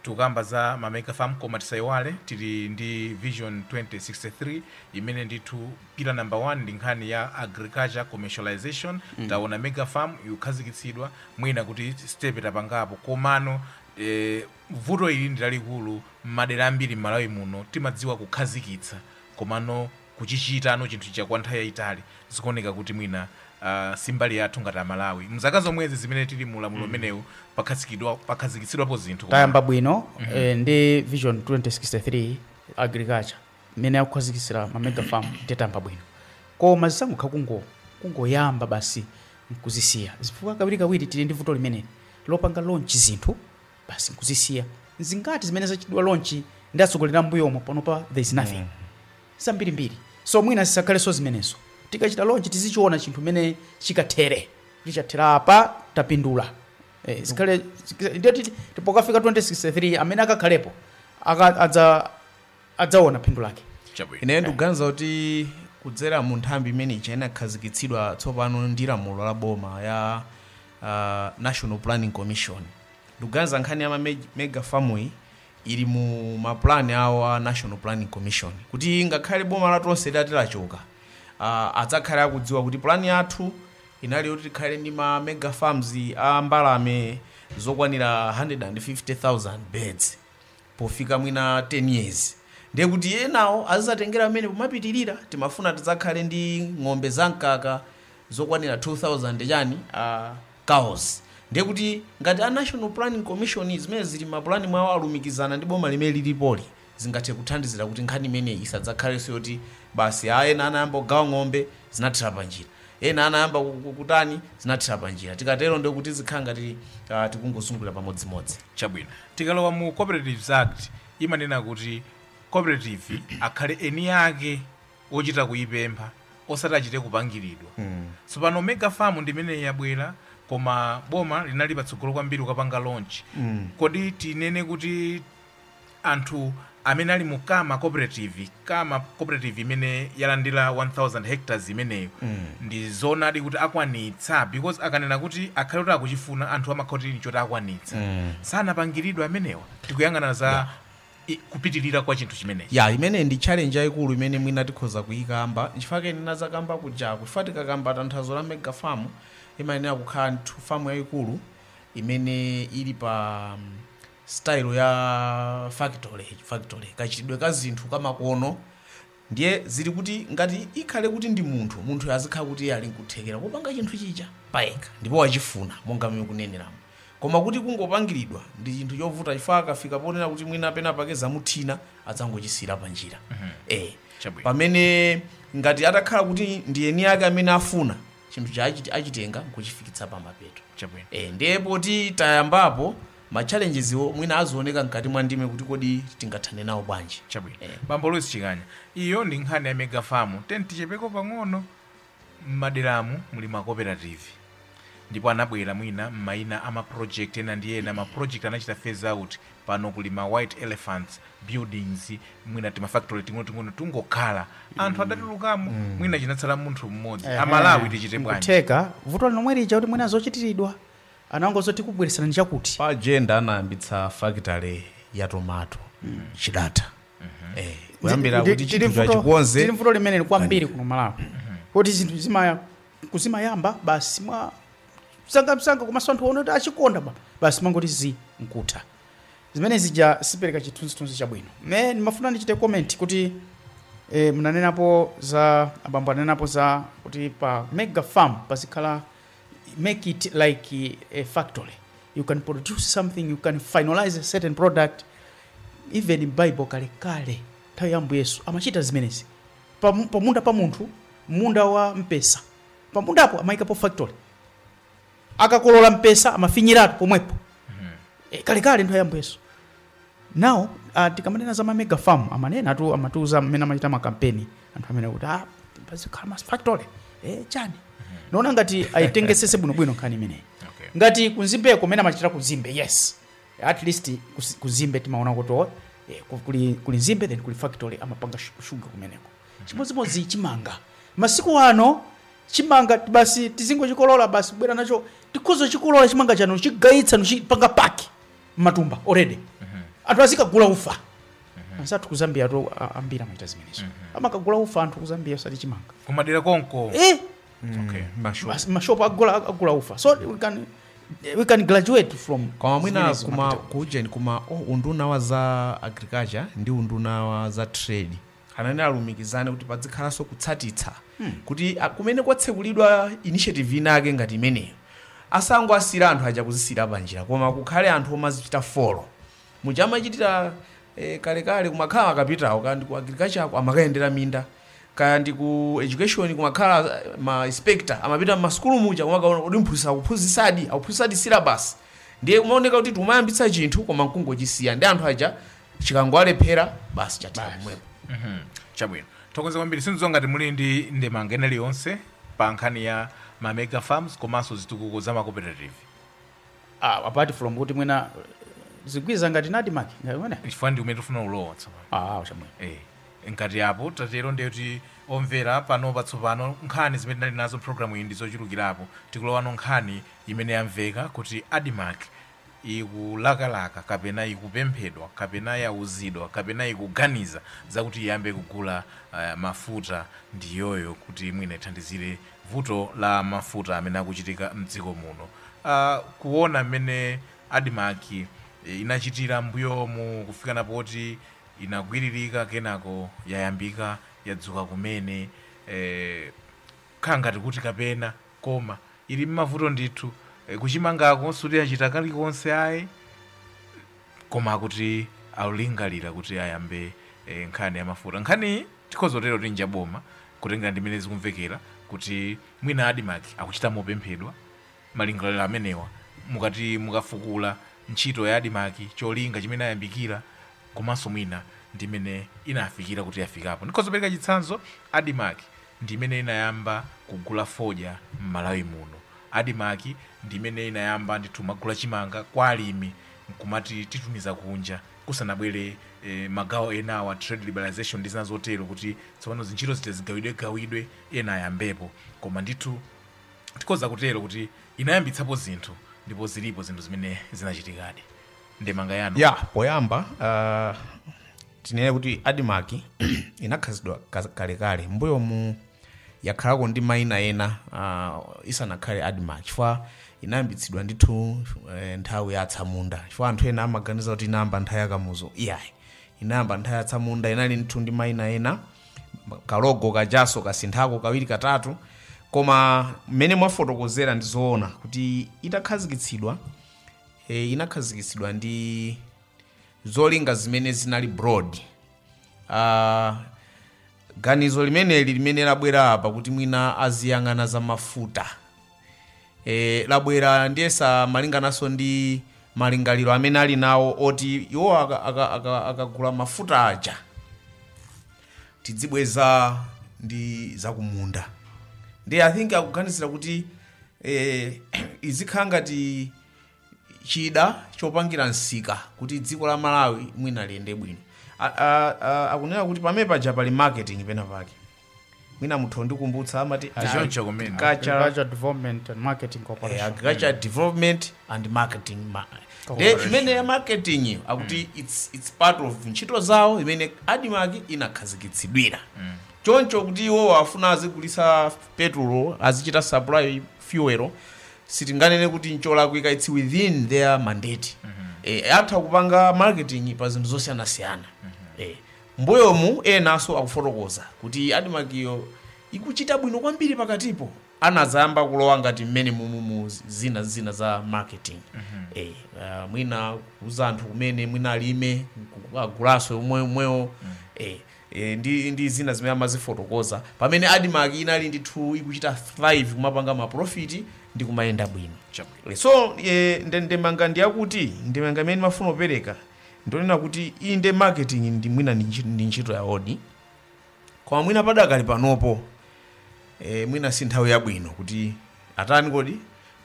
tikukamba za mamega farm koma tisayiwale tili ndi vision 2063 imene ndithu pillar number 1 ndi nkhani ya agriculture commercialization mm. taona mega farm ikukhazikitsidwa mwina kuti step tapangapo komano eh, vuto ili ndi lalikulu m'madera ambiri m'malawi muno timadziwa kukhazikitsa komano kuchichitano chinthu chija kwa nthawi yayitali zikuoneka kuti mwina uh, si mbali yathu ngati amalawi mzaka zomwezi zimene tili mu ulamuliro umenewu pakhazikidwa- pakhazikitsidwapo zinthu koma- tayamba bwino eh, ndi vision 2063 agriculture imene akukhazikitsira ma mega farm kuti tayamba bwino koma zisangokhala kungo kungoyamba basi nkuzisiya chifukwa kawirikawiri tili ndi vuto limeneli lopanga launch zinthu basi nkuzisiya nzingati zimene zachitidwa launch ndi atsogoleri ambuyomo panopa there is nothing zambirimbiri so mwina zisakhalenso zimenezo tikachita launch tizichiona chinthu mene chikathere chichathera apa tapindula eh, zikhale ndiyoti tipokafika 2063 amene akakhalepo aka- adza adzaona phindu lake Chabwino. ineyo ndikuganiza kuti kudzera mu nthambi imene ija inakhazikitsidwa tsopano ndi lamulo la boma ya uh, national planning commission ndikuganiza nkhani ya ma meg- mega farm-yi ili mu mapulani awo a national planning commission kuti ngakhale boma latonse litati lachoka uh, adzakhale akudziwa kuti pulani yathu inali yoti tikhale ndi ma mega farms a mbalame zokwanira 150,000 birds pofika mwina 10 years ndiye kuti enawo azizatengera pamenepo mapitirira timafuna tidzakhale ndi ng'ombe za mkaka zokwanira 2000 chani uh, cows ndiye kuti ngati a national planning commission zimene zili mapulani mwawo alumikizana ndi boma limene lilipoli zingathe kuthandizira kuti nkhani imeneyi isadzakhalenso yoti basi ena anayamba kugawa ng'ombe zinathera panjira Ena anayamba kutani, zinathera panjira. Tikatero ndiye kuti zikhala ngati tikungozungulira pamodzimodzi. Chabwino. Tikalowa mu Cooperatives Act imanena kuti cooperative akhale eni ake ochita kuipempha osati achite kupangiridwa. Tsopano Mega Farm ndi imeneyi yabwera koma boma linali patsogolo kwambiri kukapanga launch. Kodi tinene kuti anthu amene ali mu kama cooperative kama cooperative imene yalandira 1000 hectares imeneyo mm. ndi zoonadi kuti akwanitsa because akanena kuti akhale kuti akuchifuna anthu amakhutira nchoti akwanitsa mm. sanapangiridwe amenewa tikuyang'ana za yeah i- kupitirira kwa chinthu chimenechi ya imene ndi challenge yayikulu imene mwina tikhoza kuyikamba chifukwa ndinazakamba kujaku chifukwa tikakamba tanthauzo la mega farm imayenera kukhala nthu famu yayikulu imene ili pa mm, style ya factory factory kachitidwe ka zinthu kamakono ndiye zili kuti ngati ikhale kuti ndi munthu munthuyo azikhala kuti iye ali nkuthekera kupanga chinthu chija payekha ndipo wachifuna monga mmene mukuneneramo koma kuti kungopangiridwa ndi chinthu chovuta chifukwa akafika ponena kuti mwina pena pake zamuthina adzangochisiyira pa njira eh Chabwino. pamene ngati atakhala kuti ndi eni ake amene afuna chinthu chija achitenga nkuchifikitsa pa mapeto chabwino Eh, ndiye poti tayambapo ma challenges-wo mwina azioneka mkati mwa ndime kuti kodi tingathane nawo bwanji chabwino Eh. bambo louis chikanya iyo ndi nkhani ya mega farm tiyeni tichepeko pang'ono mmaderamu muli ma cooperative ndipo anabwera mwina mmaina ama project ena ndi ena ma project anachita phase out pano kuli ma white elephants buildings mwina tima factory ting'onoting'ono tikungokhala anthu adatulukamo mwina chinatsala munthu mmodzi amalawi tichite bwanji kutheka vuto lomwe lija kuti mwina zochitiridwa Anangouza tikubweretserani chakuti. Pa Jenda anayambitsa factory ya tomato Chidata. Eh, Kuyambira Ndi- kuti tili chinthu vuto- chachikonze. Tili vuto limeneli kwambiri kuno Malawi kuti zinthu zimaya kuzimayamba basi mwa msangamsanga komanso anthu aona kuti achikonda ba basi mangoti zi nkutha zimene zija sizipereka chithunzithunzi chabwino me ndimafuna ndichite comment kuti eh, munanenapo za abambo anenapo za kuti pa mega farm pazikhala make it like a factory you can produce something you can finalize a certain product even in bible kale kale nthawi ya ambuye yesu amachita zimenezi Pamu- pamunda pa munthu munda wa mpesa pamundapo amayikapo factory akakolola mpesa amafinyiratu pomwepo Eh, kalekale nthawi ya ambuye yesu Now, uh, tikamanena za ma mega farm amanenatu amatiuza mmene amachita makampeni anthu amenewa kuti ah, pazikhala ma factory eh, chani naona ngati ayitengetsetse bwinobwino nkhani imeneyi Okay. ngati kunzimbeko mmene amachita kunzimbe yes at least kus- kunzimbe timaona kuti oh, eh, ku- kuli, kuli nzimbe then kuli factory amapanga shu- shuga kumeneko chimodzimodzi chimanga masiku ano chimanga basi tizingochikolola basi kubwera nacho tikhoza kuchikolola chimanga chanu kuchigayitsa nkuchipanga pack mmatumba already anthu azikagula ufa anzathu ku Zambia tu a- ambiri amachita zimenezo amakagula ufa anthu ku Zambia osati chimanga kumadera konko eh okay mashopu basi mashopu agula agula ufa so we can we can graduate from koma mwina zimenezi kuma mapita. kuujeni kuma oh, unduna wa za agriculture ndi unduna wa za trade ananena alumikizane kuti padzikhalanso kutsatitsa kuti a- kumene kwatsekulidwa initiative inake ngati imeneyo asangowasiyira anthu aja kuzisiyira panjira koma kukhale anthu omazichita follow muja amachitira eh, kalekale kumakhala akapitawo kaya ndi ku agriculture ako amakayendera minda kaya ndi ku education kumakhala eh, ma inspector amapita mmasukulu muja kumakaona kuti mphunzitsi akuphunzitsadi akuphunzitsadi syllabus ndiye kumaoneka kuti tikumayambitsa chinthu koma nkungochisiya ndi anthu aja chikangowalephera basi chathera Basi. pomwepo Mhm. chabwino tathokoza kwambiri sindidziwa ngati muli ndi ndemanga ina iliyonse pa nkhani ya ma mega farms komanso zitukuko za ma cooperative Ah, apart from kuti mwina zigwirizana ndi Admarc ngati mwene chifukwa ndi kumene tikufuna kulowa tsopano ah chamwe Eh, ngati apo tatero ndiye kuti omvera pano patsopano nkhani zimene tinali nazo programu iyi ndi zochulukirapo tikulowa no nkhani imene yamveka kuti Admarc ikulakalaka kapena ikupemphedwa kapena yauzidwa kapena ikuganiza zakuti iyambe kugula mafuta ndiyoyo kuti mwina ithandizire vuto la mafuta amene akuchitika m'dziko muno. Kuona mmene Admarc inachitira m'mbuyomu kufikana poti inagwiririka kenako yayambika yadzuka kumene, kukhala ngati kuti kapena. koma ili mmavuto ndithu kuchimangako suti achita kalikonse ayi koma akuti alulingalira kuti ayambe eh, nkhani ya mafuta nkhaniyi tikhoza kutero kuti nja boma kutengera ndi mmene zikumvekera kuti mwina Admarc akuchita mopemphedwa malingaliro amenewa mukati mukafukula ntchito ya Admarc cholinga chimene inayambikira komanso mwina ndimene inafikira kuti yafikapo ndikhoza kupereka chitsanzo Admarc ndi imene inayamba kugula fodya m'Malawi muno. Admarc ndi imene inayamba ndithu kumagula chimanga kwa alimi n'kumatitumiza kunja kusanabwere eh, magawo enawa trade liberalization ndi zina zotero kuti tsopano zintchito zija zigawidwegawidwe ena ayambepo koma ndithu tikhoza kutero kuti inayambitsapo zinthu ndipo zilipo zinthu zimene zinachitikadi ndemanga yanu ya poyamba uh, tinene kuti admarc inakhazikitsidwa ka- kalekale mbuyomu yakhalako ndi maina ena uh, isanakhale admarc chifukwa inayambitsidwa ndithu eh, nthawi ya atsamunda chifukwa anthu ena amaganiza kuti inayamba nthawi ya kamuzu iyayi inayamba nthawi ya atsamunda inali ndithu ndi maina ena kalogo kajaso kasinthako kawiri katatu koma mmene mwafotokozera ndi zoona kuti itakhazikitsidwa e, inakhazikitsidwa ndi zolinga zimene zinali broad uh, ganizo limeneli limene labwera apa kuti mwina aziyang'ana za mafuta e, labwera ndiyesa malingananso ndi malingaliro amene ali nawo oti iwo akagula aka, aka, aka akagula mafuta aja tidzibweza ndi zakumunda ndi i think akuganizira kuti eh, izikhala ngati chida chopangira msika kuti dziko la malawi mwina liyende bwino A- a- a- akunena kuti pamene paja pali marketing pena pake mwina mutha kundikumbutsa amati Choncho kumene. agricultural Agriculture Development and Marketing eh, Corporation. agriculture development and marketing ma de imene ya marketing iyo akuti it's, it's part of ntchito zawo imene admarc inakhazikitsidwira choncho kuti iwo afuna azigulitsa petrol azichita supply fuel sitinganene kuti ncholakwika it's within their mandate eh, atha kupanga marketing pa zinthu zosiyanasiyana eh, mbuyomu enanso akufotokoza kuti admarc iyo ikuchita bwino kwambiri pakatipo anadzayamba kulowa ngati mmene mumu mu zina zina za marketing eh, ah, mwina kuuza anthu kumene mwina alime ku- agulaso omwe omwewo eh, eh, ndi, ndi zina zimene amazifotokoza pamene admarc inali ndithu ikuchita thrive kumapanga maprofiti ndi kumayenda bwino Chabwino. so eh, nde- ndemanga ndiyakuti ndemanga imene ndimafuna kupereka ndonena kuti inde marketing ndi mwina ndi ntchi- ndi ntchito ya odi koma mwina padakali panopo e, mwina si nthawi yabwino kuti atani kuti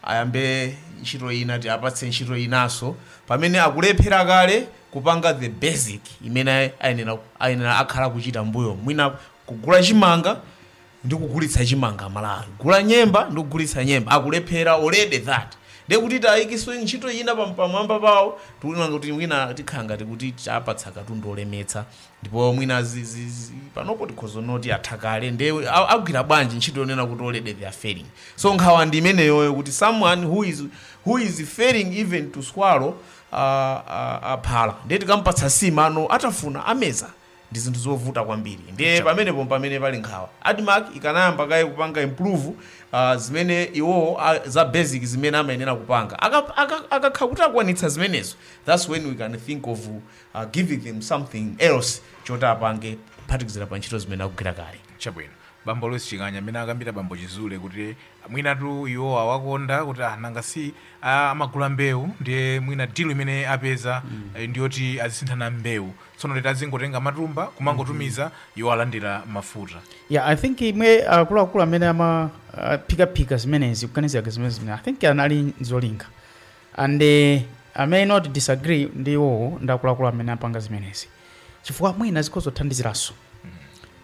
ayambe ntchito ina tiwapatse ntchito inaso pamene akulephera kale kupanga the basic imene ayenera ayenera akhala akuchita m'mbuyomu ngati kugula chimanga ndi kugulitsa chimanga mwina kugula nyemba ndi kugulitsa nyemba akulephera already that ndiye kuti tiyikenso ntchito ina pam- pamwamba pawo tiona kuti mwina tikhala ngati kuti tawapatsa katundu olemetsa ndipo mwina zi, zi, zi, panopo tikhoza kunena kuti atha kale nde a- agwira bwanji ntchito yonena kuti already they are failing so nkhawa ndi imeneyoyo kuti someone who is, who is failing even to swallow uh, uh, uh, phala ndiye tikampatsa nsima kuti atafune ameze ndi zinthu zovuta kwambiri ndiye pamenepo pamene pali nkhawa admarc ikanayamba kaye kupanga improve uh, zimene iwowo ah, za basic zimene amayenera kupanga Aka- aka- akakha kuti akwanitsa zimenezo that's when we can think of giving them something else choti apange kuphatikizira pa ntchito zimene akugwira kale. Chabwino. Bambo Louis Ching'anya mmene akambira bambo Chizule kuti mwinatu iwowa awakonda kuti ah, nanga si ah, amagula mbewu ndiye mwina deal imene apeza eh, ndiyoti azisinthana mbewu tsono later azingotenga matumba kumangotumiza iwo alandira mafuta yeah i think mwina akuluakulu amene amaphikaphika zimenezi kuganizira zimene zimene i think anali ndi zolinga And i may not disagree ndi iwowo ndi akuluakulu amene apanga zimenezi chifukwa mwina zikhoza kuthandiziranso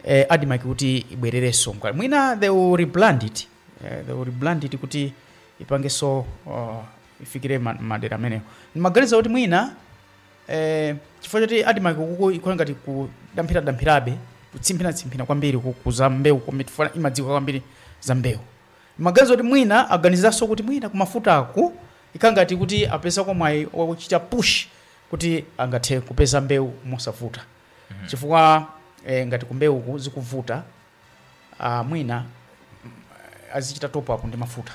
eh, admarc kuti ibwererenso mkati. mwina they will rebrand it eh, they will rebrand it kuti ipangenso uh, ifikire ma- madera amenewo ndimaganiza kuti mwina eh, chifukwa choti admarc kuku ikhala ngati kudamphiradampirabe kutsimphinatsimpina kwambiri ku za mbewu komiti fana imadziwa kwambiri za mbewu Ndimaganiza kuti mwina aganizaso kuti mwina kumafutaku ikhala ngati kuti apezako mwayi ochita push kuti akathe kupeza mbewu mosavuta chifukwa eh, ngati kumbewuku zikuvuta ah, mwina azichita top up ndi mafuta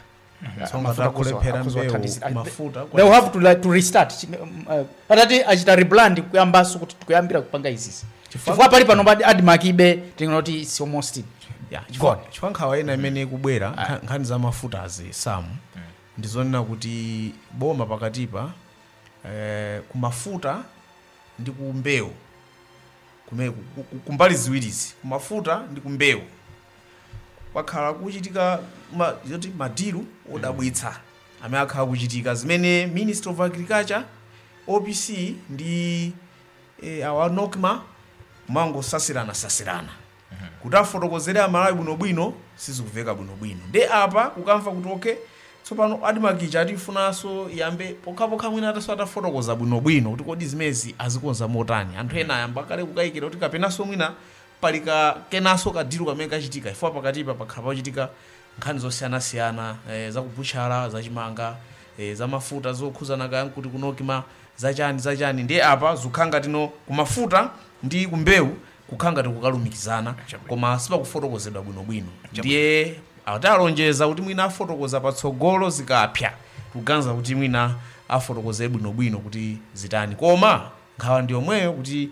Ah, Tsonga mafuta akuzo- takulephera akuzo mbewu, athandizira. Ali- mafuta, they will have to, like, to restart Chi- um, uh, atati achita rebrand kuyambaso kuti tikuyambira kupanga izizi chifukwa pali pano admarc ilibe tinoti it's almost Yeah, Go chifukwa on. chifukwa nkhawa ina imene ikubwera nkha- nkhani za mafutazi samu ndizonena kuti boma pakatipa eh, kumafuta ndi kumbewu kume- ku- ku- kumbali ziwirizi kumafuta ndi kumbewu kwakhala kuchitika ma- zoti madilu odabwitsa amene akhala kuchitika zimene ministry of agriculture opc ndi eh, awa nocma amangosasirana sasirana kuti afotokozere amalawi bwinobwino sizikuveka bwinobwino nde apa ukamva kuti ok tsopano admarc ija atiifunaso iyambe pokhapokha mwina ataso atafotokoza bwinobwino kuti kodi zimezi azikonza motani anthu ena ayamba kale kukayikira kuti kapenaso mwina pali ka kenaso ka deal kamene kachitika chifukwa pakatipa pakhala pachitika nkhani zosiyanasiyana eh, zakubutchala zachimanga eh, zamafuta zokhuzana kaya nkuti kunokima zachani zachani ndiye apa zikukhala ngati no kumafuta ndi kumbewu kukhala ngati kukalumikizana koma sipakufotokozedwa bwinobwino ndiye atalonjeza kuti mwina afotokoza patsogolo zikapsa kuganiza kuti mwina afotokoze bwinobwino kuti zitani koma nkhawa ndi yomweyo kuti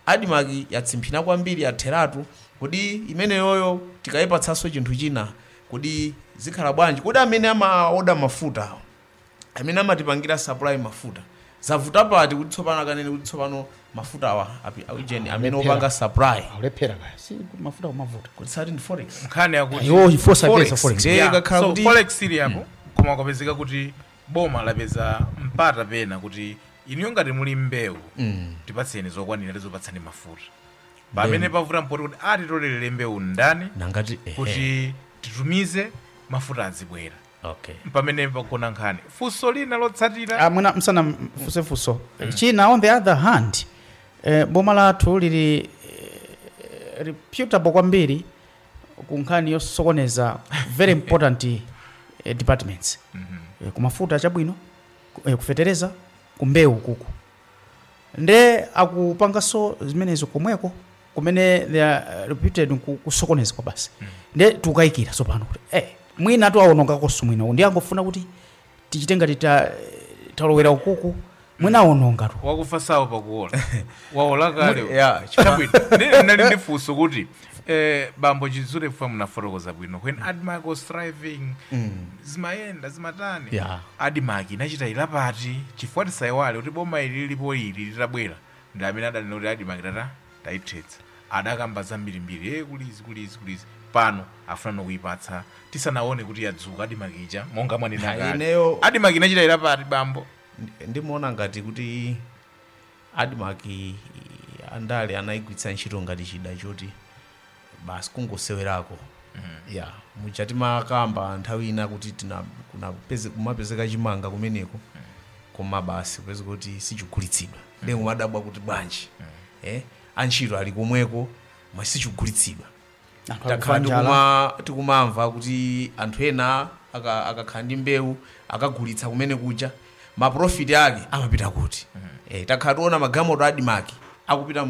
adimaki yatsimphina kwambiri yatheratu kodi imeneyoyo tikayipatsanso chinthu china kodi zikhala bwanji kodi amene amaoda mafuta awo amene amatipangira supply mafuta zavuta pati kuti tsopano akanene kuti tsopano mafuta awa amene opanga supply akulephera kaya si mafuta kumavuta kuti sati ndi forex nkhani yakuti iwo ifosa Forex. pesa forex Ndiye Yeah, ikakhala so kuti- forex ili apo koma kwapezeka kuti boma lapeza mpata pena kuti inuyo ngati muli mbewu tipatseni zokwanira tizopatsani mafuta pamene pavuta mpoti kuti atitolerere mbewu ndani nangati ehe. kuti titumize mafuta azibwera okay mpamene pagona nkhani funso lina lotsatira Ah, mwina ndisanafunse funso china on the other hand eh, boma lathu lili eh, reputable kwambiri ku nkhani yosokoneza very important eh, departments eh, kumafuta chabwino ku- eh, kufetereza kumbewu kuku nde akupanganso zimenezo komweko kumene they are uh, reputed ku- kusokoneza kwa basi nde tikukayikira tsopano kuti eh, mwina awonongakonso mwina ndi angofuna kuti tichite ngati ta- talowera ukuku mwina awonongatu wakufa saopa kuola waola kale Muli- yeah, chifukwa- Chabwino. Ndi- ndinali ndi funso kuti Eh, bambo chidzule fwa munafotokoza bwino when admark was thriving zimayenda zimatani Yeah. admark inachita ilapati chifukwa tisaiwale kuti boma ili lilipo ili litabwera ndi amene adanena kuti admark tata tayithetsa adakamba zambirimbiri e kulizi kulizi kulizi pano afuna nokuyipatsa tisanaone kuti yadzuka admark ija monga mwanena Ha, kale. ineyo- admark inachita ilapati bambo Ndi- ndimuona ngati kuti Admarc andale anaigwiritsa ntchito ngati chida choti basi kungosewerako ya muja timakamba nthawi ina kuti tina- kunapeze- kumapezeka chimanga kumeneko koma basi kupezeka kuti sichigulitsidwa ndiye kumadabwa kuti bwanji eh, antchito ali komweko ma sichigulitsidwa Anthu takhala akufa njala. tikuma- tikumamva kuti anthu ena aka- akakhala ndi mbewu akagulitsa kumene kuja maprofiti ake amapita kuti eh, takhala tiona magalimoto adimaki akupita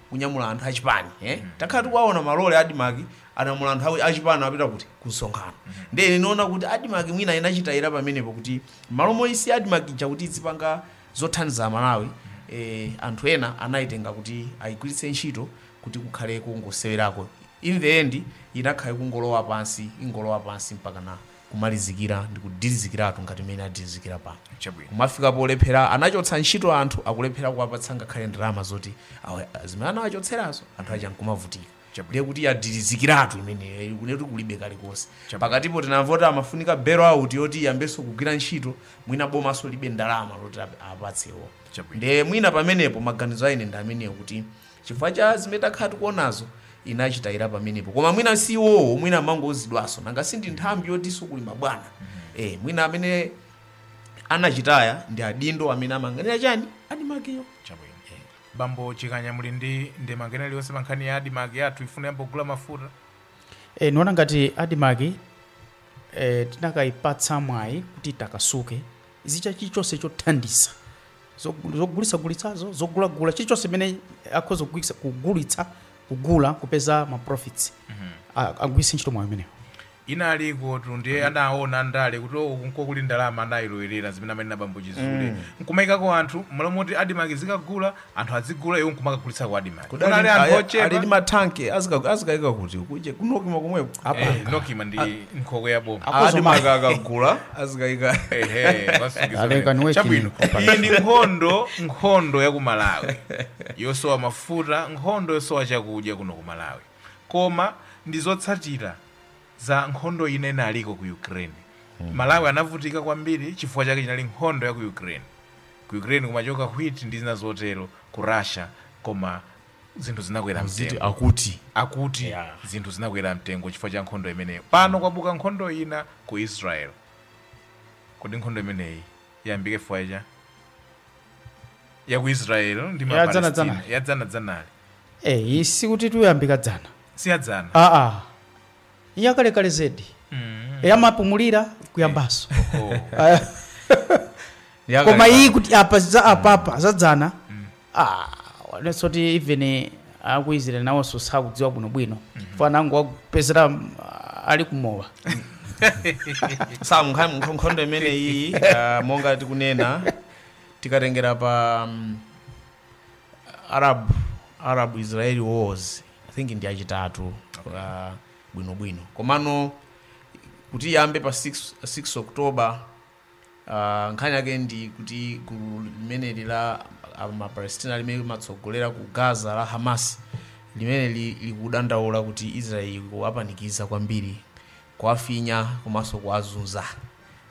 kukanyamula anthu achipani eh? takhala tikuwaona malole adimaki anyamula anthu awo achipani apita kuti kunsonkhano ndiye ine ndinaona kuti adimaki mwina inachitayira pamenepo kuti mmalo moti adimaki ija izipanga zothandiza malawi eh, anthu ena anayitenga kuti ayigwiritse ntchito kuti kukhale kongosewerako in the end inakhala ikungolowa pansi ingolowa pansi mpakana kumalizikira ndikudirizikiratu ngati mmene yadirizikira pano Chabwino. kumafika polephera anachotsa ntchito anthu akulephera kuwapatsa ngakhale ndalama zoti awa- zimene anawachotserazo anthu aja nkumavutika Chabwino. ndiye kuti yadirizikiratu imeneyo kuneti kulibe kalikonse Chabwino. pakatipo tinamva kuti amafunika bail out yoti iyambenso kugwira ntchito mwina bomanso lilibe ndalama zoti ap- apatsewo Chabwino. ndiye mwina pamenepo maganizo a ine ndi amenewo kuti Chifukwa cha zimene takhala tikuonazo inachitayira pamenepo koma mwina si iwowo mwina amangouzidwanso nanga si ndi nthambi yotinso kuli mabwana eh, mwina amene anachitaya ndi adindo amene amayang'anira chani adimakiyo chabwino bambo chikanya muli ndi ndemanga ina iliyonse pa nkhani ya adimaki yati ifuna iyambe kugula mafuta e, ndiona ngati adimaki e, tikanayipatsa mwayi kuti itakasuke izichita chilichonse chothandiza zog- zogulitsagulitsazo zogulagula chilichonse chimene akhoza kugwiritsa- kugulitsa kugula kupeza ma profits A- agwiritse ntchito mwayi umenewo unali kotu ndiye anaona ndale kuti uku nkomwe kuli ndalama anayilowerera zimene amanena bambo chizule nkumayikako anthu mmalo moti adimaki izikagula kwa anthu azigula iwo nkumakagulitsa ku adimaki Kudali- kunali anthu ali- ali ndi ochepa matanki azika- azikayika kuti kuje kunokima komweko Eh, nokima ndi nkhokwe ya boma Akozo adimaki akagula azikaika Ehe, wasungitsa Aleka pamene. niwe Chabwino. chini. iyi ndi nkhondo nkhondo ya ku malawi yosowa mafuta nkhondo yosowa chakudya kuno ku malawi koma ndi zotsatira za nkhondo ina inaliko ku ukraine malawi anavutika kwambiri chifukwa chake chinali nkhondo ya ku ukraine ku ukraine kumachoka wheat ndi zina zotero ku russia koma zinthu zinakwera mtengo akuti akuti Yeah. zinthu zinakwera mtengo chifukwa cha nkhondo imeneyo pano kwabuka nkhondo ina ku israel kodi nkhondo imeneyi yayambika chifukwa cha ya ku israel ndi ma Ya dzana Palestina. dzana. ya dzana dzanali Eh, iyi sikuti yayambika dzana si ya dzana aa yakalekale zedi mm. imapumulira kuyambanso oh. koma iyi kuti apa za apapa zadzana mm. ah, wanenso kuti even eh, aku Israel nawonso sakudziwa bwinobwino mm -hmm. fana angu wakupezera ah, ali kumowa sankhondo imeneyi uh, monga tikunena tikatengera pa um, Arab Arab Israeli wars I think ndi achitatu uh, bwino bwino komano kuti iyambe pa 6, 6 October uh, nkhani yake ndi kuti gulu limeneli la uh, mapalestina limene limatsogolera ku gaza la hamas limene li- likudandaula kuti israeli kuwapanikiza kwambiri kuwafinya komanso kuwazunza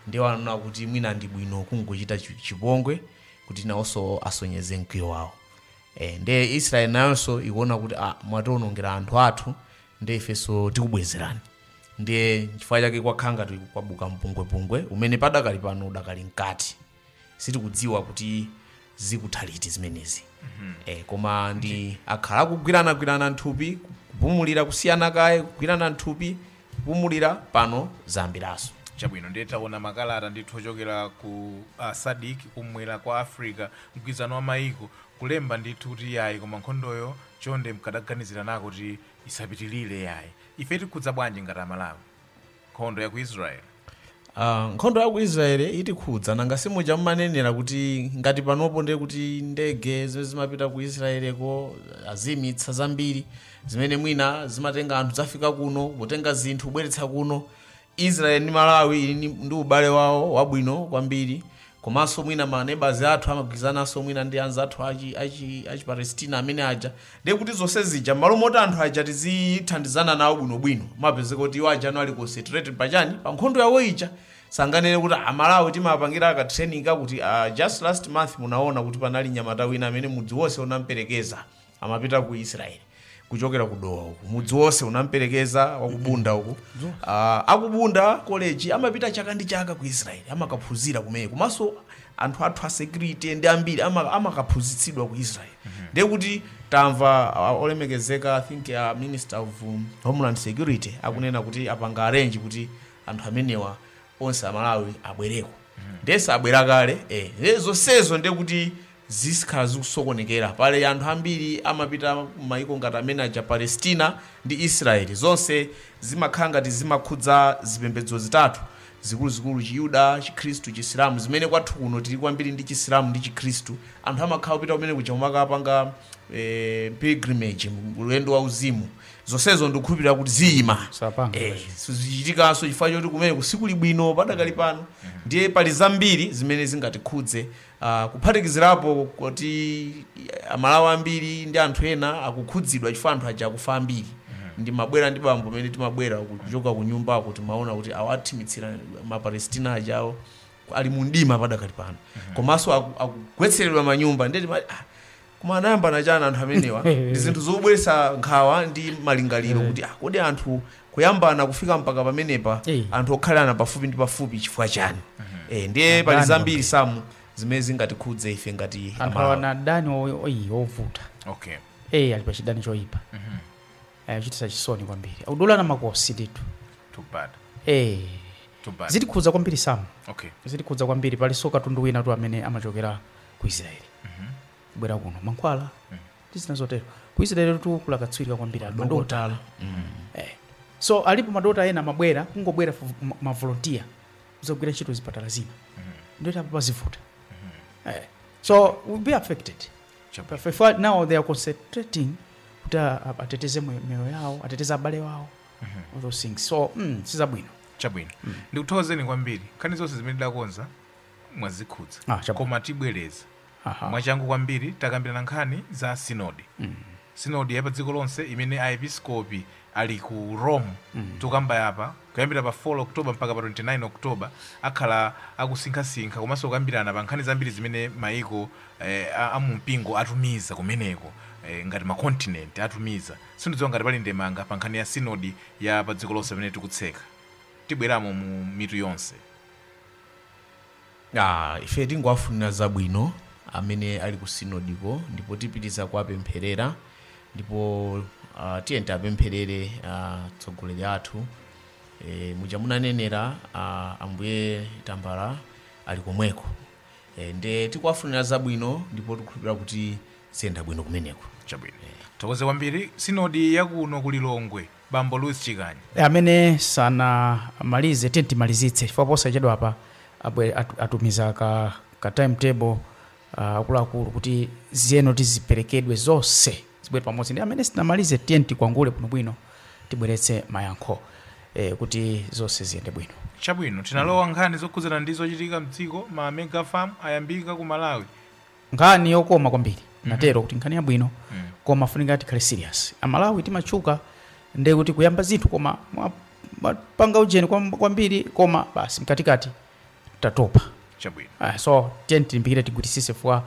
ndiye waona kuti mwina ndi bwino kungochita chi- chipongwe kuti nawonso asonyeze mkwiyo wawo e, nde israeli nayonso ikuona kuti ah, mwationongera anthu athu nde ifenso tikubwezerani ndiye chifukwa chake kwakhala ngati kwabuka mpungwepungwe umene padakali pano udakali mkati sitikudziwa kuti zikutha liti zimenezi e, koma nde akhala akugwiranagwirana nthupi kupumulira kusiyana kaye kugwirana nthupi pumulira pano zayambiranso. Chabwino ndiye taona makalata ndithu ochokera ku SADC kumwera kwa Africa, mgwirizano wa maiko, kulemba ndithu kuti yayi koma nkhondoyo chonde mkadaganiziranako kuti isapitilire yayi. Ife itikhudza bwanji ngati a Malawi? Nkhondo ya ku Israel? Ah, nkhondo ya ku israel itikhudza nanga simuja mumanenera kuti ngati panopo ndiye kuti ndege zimene zimapita ku israeleko azimitsa zambiri zimene mwina zimatenga anthu zafika kuno kutenga zinthu kubweretsa kuno israel ndi malawi ali ni- ndi ubale wawo wabwino kwambiri komanso mwina ma neighbors athu amagwirizananso mwina ndi anzathu achi achi achi Palestina amene aja ndiye kuti zonse zija m'malo moti anthu aja tizithandizana nawo bwinobwino mumapezeka kuti iwo ajanso ali concentrated pachani pa nkhondo yawo ija tinganene kuti amalawi timapangira ka training kakuti uh, just last month munaona kuti panali nyamata wina amene mudzi wonse unamperekeza amapita ku israeli kuchokera ku dowa uku mudzi wonse unamperekeza wakubunda uku Ah, akubunda koleji amapita chaka ndi chaka ku israeli amakaphunzira kumene komanso anthu athu a security ndi ambiri ama- amakaphunzitsidwa ku israeli ndiye kuti tamva ah, olemekezeka i think a minister of um, homeland security akunena kuti apanga arrange kuti anthu amenewa onse amalawi abwereko ndiyeso abwera kale eh. Eh, zonsezo ndiye kuti zizikhala zikusokonekera. Pali anthu ambiri amapita ku maiko ngati amene aja Palestina ndi Israel. Zonse zimakhala ngati zimakhudza zipembedzo zitatu zikuluzikulu, Chiyuda, Chikhristu, Chisilamu, zimene kwathu kuno tili kwambiri ndi Chisilamu ndi Chikhristu. Anthu amakhala kupita kumene kuja kumakapanga eh, pilgrimage, ulendo wa uzimu. Zonsezo ndikukhulupirira kuti ziyima. Sapanga. Eh, sizichitikanso chifukwa choti kumeneku sikuli bwino padakali pano ndiye pali zambiri zimene zingatikhudze kuphatikizirapo kuti amalawi ambiri ndi anthu ena akukhudzidwa chifukwa anthu aja akufa ambiri ndimabwera ndi bambo pamene timabwera kuchoka ku nyumbako timaona kuti awathimitsira mapalestina ajawo ali mu mdima padakali pano komanso aku- akugwetseredwa manyumba nde ti Koma anayambana chana anthu amenewa? Ndi zinthu zobweretsa nkhawa ndi malingaliro kuti ah, kodi anthu kuyambana kufika mpaka pamenepa Eh. anthu okhalana pafupi ndi pafupi chifukwa chani? Eh, ndiye pali Adani zambiri samu zimene zingatikhudze ife ngati anthu Amalawi. awana adani o- oyi ovuta okay eyi ali pa chidani choyipa Eh, kuchititsa chisoni kwambiri akudulana makosi ndithu too bad Eh, too bad zitikhudza kwambiri samu okay zitikhudza kwambiri palinso katundu wina tu amene amachokera ku israeli kubwera kuno mankhwala ndi zina zotero ku israeli tu kuli akatswiri kwambiri ali madokotala Eh. so alipo madokotala ena amabwera kungobwera vo- ma- mavolontiya kuzagwira ntchito zipatala zina nde apo pazivuta Eh. so we'll be affected Chapa. If- if I- now they are concentrating kuti a- a- ateteze mwe- miyoyo yawo ateteze abale wawo all those things so mm, sizabwino chabwino ndikuthokozeni kwambiri nkhani zonse zimene tidakonza mwazikhudza Ah, chabwino. koma tibwereza Aha. mwachangu kwambiri takambirana nkhani za sinodi sinodi ya pa dziko lonse imene aepiskopi ali ku rome tikukambayi apa kuyambira pa 4 oktoba mpaka pa 29 oktoba akhala akusinkhasinkha komanso kukambirana pa nkhani zambiri zimene maiko eh, a- a mumpingo atumiza kumeneko eh, ngati makontinenti atumiza sindidziwa ngati pali ndemanga pa nkhani ya sinodi ya pa dziko lonse pamene tikutseka tibweramo mu mitu yonse Aaa ife tingowafunira zabwino amene ali ku sinodiko ndipo tipitiliza kuwapempherera ndipo uh, tiyeni tiwapempherere atsogoleri athu e, muja munanenera uh, ambuye tambala ali komweko e, nde tikuwafunira zabwino ndipo tikukhulupirira kuti ziyenda bwino kumeneko chabwino tithokoze kwambiri sinodi yakuno ku lilongwe Bambo Louis Chikanya. Amene sanamalize tiyeni timalizitse chifukwa posachedwapa abwe- atu- atumiza ka, ka time table ah, akuluakulu kuti ziyenera ziperekedwe zonse zibwere pamodzi ndi amene sanamalize tiyeni tikwangule bwinobwino tibweretse mayankho eh, kuti zonse ziyende bwino chabwino tinalowa nkhani zokhudzana ndi zochitika mdziko ma mega farm ayambika ku malawi nkhani yokoma kwambiri mhm. ndatero kuti nkhani yabwino mm. koma ifunika tikhale serious amalawi timatchuka nde kuti kuyamba zinthu koma kupanga ujeni kwambiri koma basi mkatikati tatopa chabwino ah, so tiyeni tilimbikire tigwirisise fwa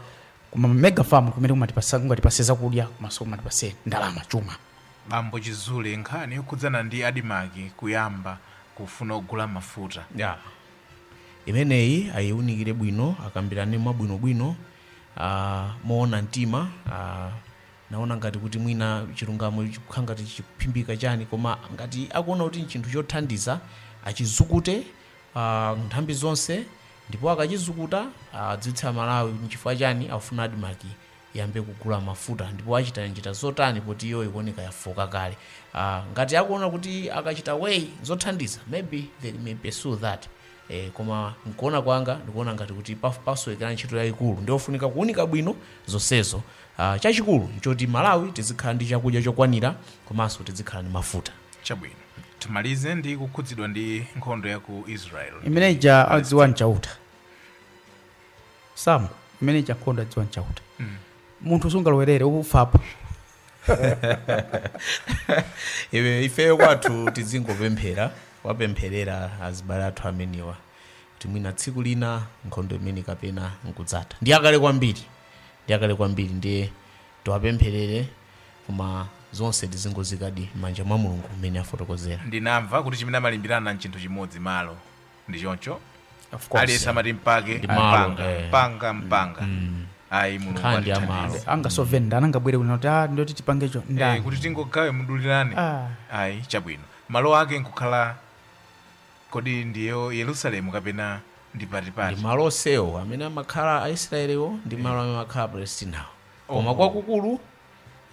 kuma mega farm kumene kumatipasa zakudya komanso kumatipasa ndalama chuma bambo chizule nkhani yokhudzana ndi adimaki kuyamba kufuna kugula mafuta yeah. imeneyi ayiunikire bwino akambirane mwabwinobwino ah, moona mtima ah, naona ngati kuti mwina chilungamo chikukhala ngati chikuphimbika chani koma ngati akuona kuti nchinthu chothandiza achizukute ah, nthambi zonse ndipo akachizukuta adziwitsa amalawi kuti nchifukwa chani afuna admarc iyambe kugula mafuta ndipo achita njira zotani poti iyo ikuoneka yafooka kale uh, ngati akuona kuti akachita weigh zothandiza maybe they may pursue that eh, koma nkuona kwanga ndikuona ngati kuti paf- pasowekera ntchito yayikulu ndiofunika kuunika bwino zonsezo uh, chachikulu nchoti malawi tizikhala ndi chakudya chokwanira komanso tizikhala ndi mafuta chabwino timalize ndi kukhudzidwa ndi nkhondo ya ku israel imeneja adziwa nchauta Sam, imeneja nkhondo adziwa nchauta munthu sungalowerere ufapo Iwe- ifeyo kwathu tizingopemphera wapempherera azibale athu amenewa kuti mwina tsiku lina nkhondo imene kapena nkudzatha ndi yakale kwambiri ndi yakale kwambiri ndiye tiwapempherere koma zonse tizingoziikadi m'manja mwa mulungu mmene afotokozera ndinamva kuti chimene amalimbirana nchinthu chimodzi malo ndi choncho Of course. aliyense amati mpake Ndi malo, mpanga eh. mpanga mpanga ayi mulungu Nkhani ndi ya malo. atithandize angasove ndani angabwere kuno kuti "Ah, ndoti tipangecho Eh, ndani kuti tingogawe mudulirane Ah. ayi chabwino malo ake nkukhala kodi ndiyo yerusalemu kapena ndi ndi patipati ndi malo onsewo amene amakhala aisraelewo ndi malo amene amakhala apalestinawo koma kwakukulu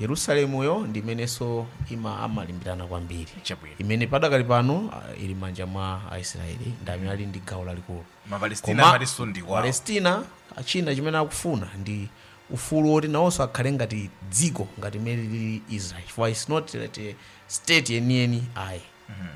Yerusalemuyo ndi imenenso ima amalimbirana kwambiri Chabwino. imene padakali pano ah, ili m'manja mwa aisraeli ndi amene ali ndi gawo lalikulu Mapalestina Koma amatinso ndi kwawo. palestina ah, china chimene akufuna ndi ufulu woti nawonso akhale ngati dziko ngati mmene lili israel chifukwa it's not like a state yeniyeni ayi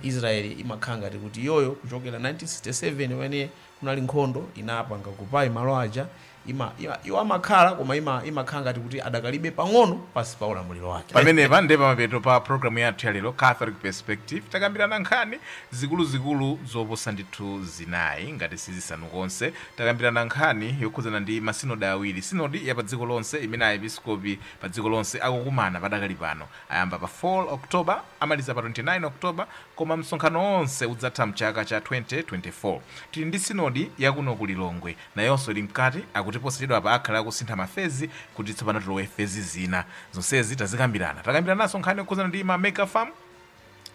israel imakhala ngati kuti iyoyo kuchokera 1967 pamene kunali nkhondo inapanga occupy malo aja Ima, ima, iwo amakhala koma ima, imakhala ngati kuti adakalibe pang'ono pansi pa ulamuliro wake. pamenepa nde pamapeto pa programu yathu ya lero catholic perspective takambirana nkhani zikuluzikulu zoposa ndithu zinayi ngati sizisanu konse takambirana nkhani yokhudzana ndi masinodi awiri sinodi ya pa dziko lonse imene aepiskopi pa dziko lonse akukumana padakali pano ayamba pa 4 october amaliza pa 29 october koma msonkhano onse udzatha mchaka cha 2024 tili ndi sinodi yakuno ku lilongwe Nayonso ili mkati, akuti posachedwapa akhala akusintha ma phase kuti tsopano tilowe phase zina. Zonsezi tazikambirana. Takambirananso nkhani yokhudzana ndi ma mega farm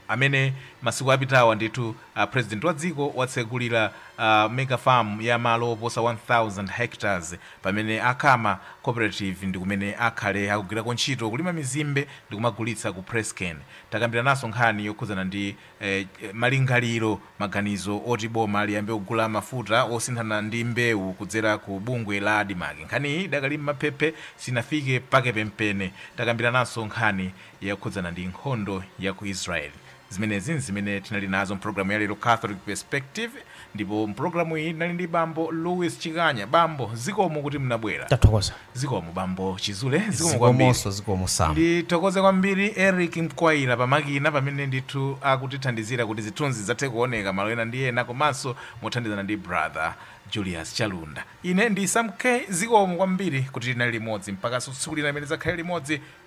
amene masiku apitawa ndithu a president wa dziko watsegulira a mega farm ya malo oposa 1000 hectares pamene a Kama cooperative ndi kumene akhale akugwirako ntchito kulima mizimbe ndikumagulitsa ku PressCane. Takambirananso nkhani yokhudzana ndi. e Malingaliro, maganizo oti boma liyambe kugula mafuta osinthana ndi mbewu kudzera ku bungwe la Admarc nkhaniyi idakali mmapepala sinafike pake penipeni. Takambilananso nkhani yokhudzana ndi nkhondo ya ku Israel. Zimenezi nzimene tinali nazo mpologalamu ya lero Catholic Perspective. Ndipo m'programu iyi tinali ndi Bambo Louis Chikanya. Bambo, zikomo kuti mnabwera. Tathokoza. Zikomo Bambo Chizule. Zikomo kwambiri. Zikomonso. Zikomo, Sam. Ndithokoze kwambiri Eric Mkwaila pa makina pamene ndithu akutithandizira kuti zithunzi zidzathe kuoneka malo ena ndi ena komanso mothandizana ndi Brother Julius Chalunda. Ine ndi Sam K. Zikomo kwambiri kuti tinali limodzi. Mpakaso tsiku lina limene tidzakhale limodzi.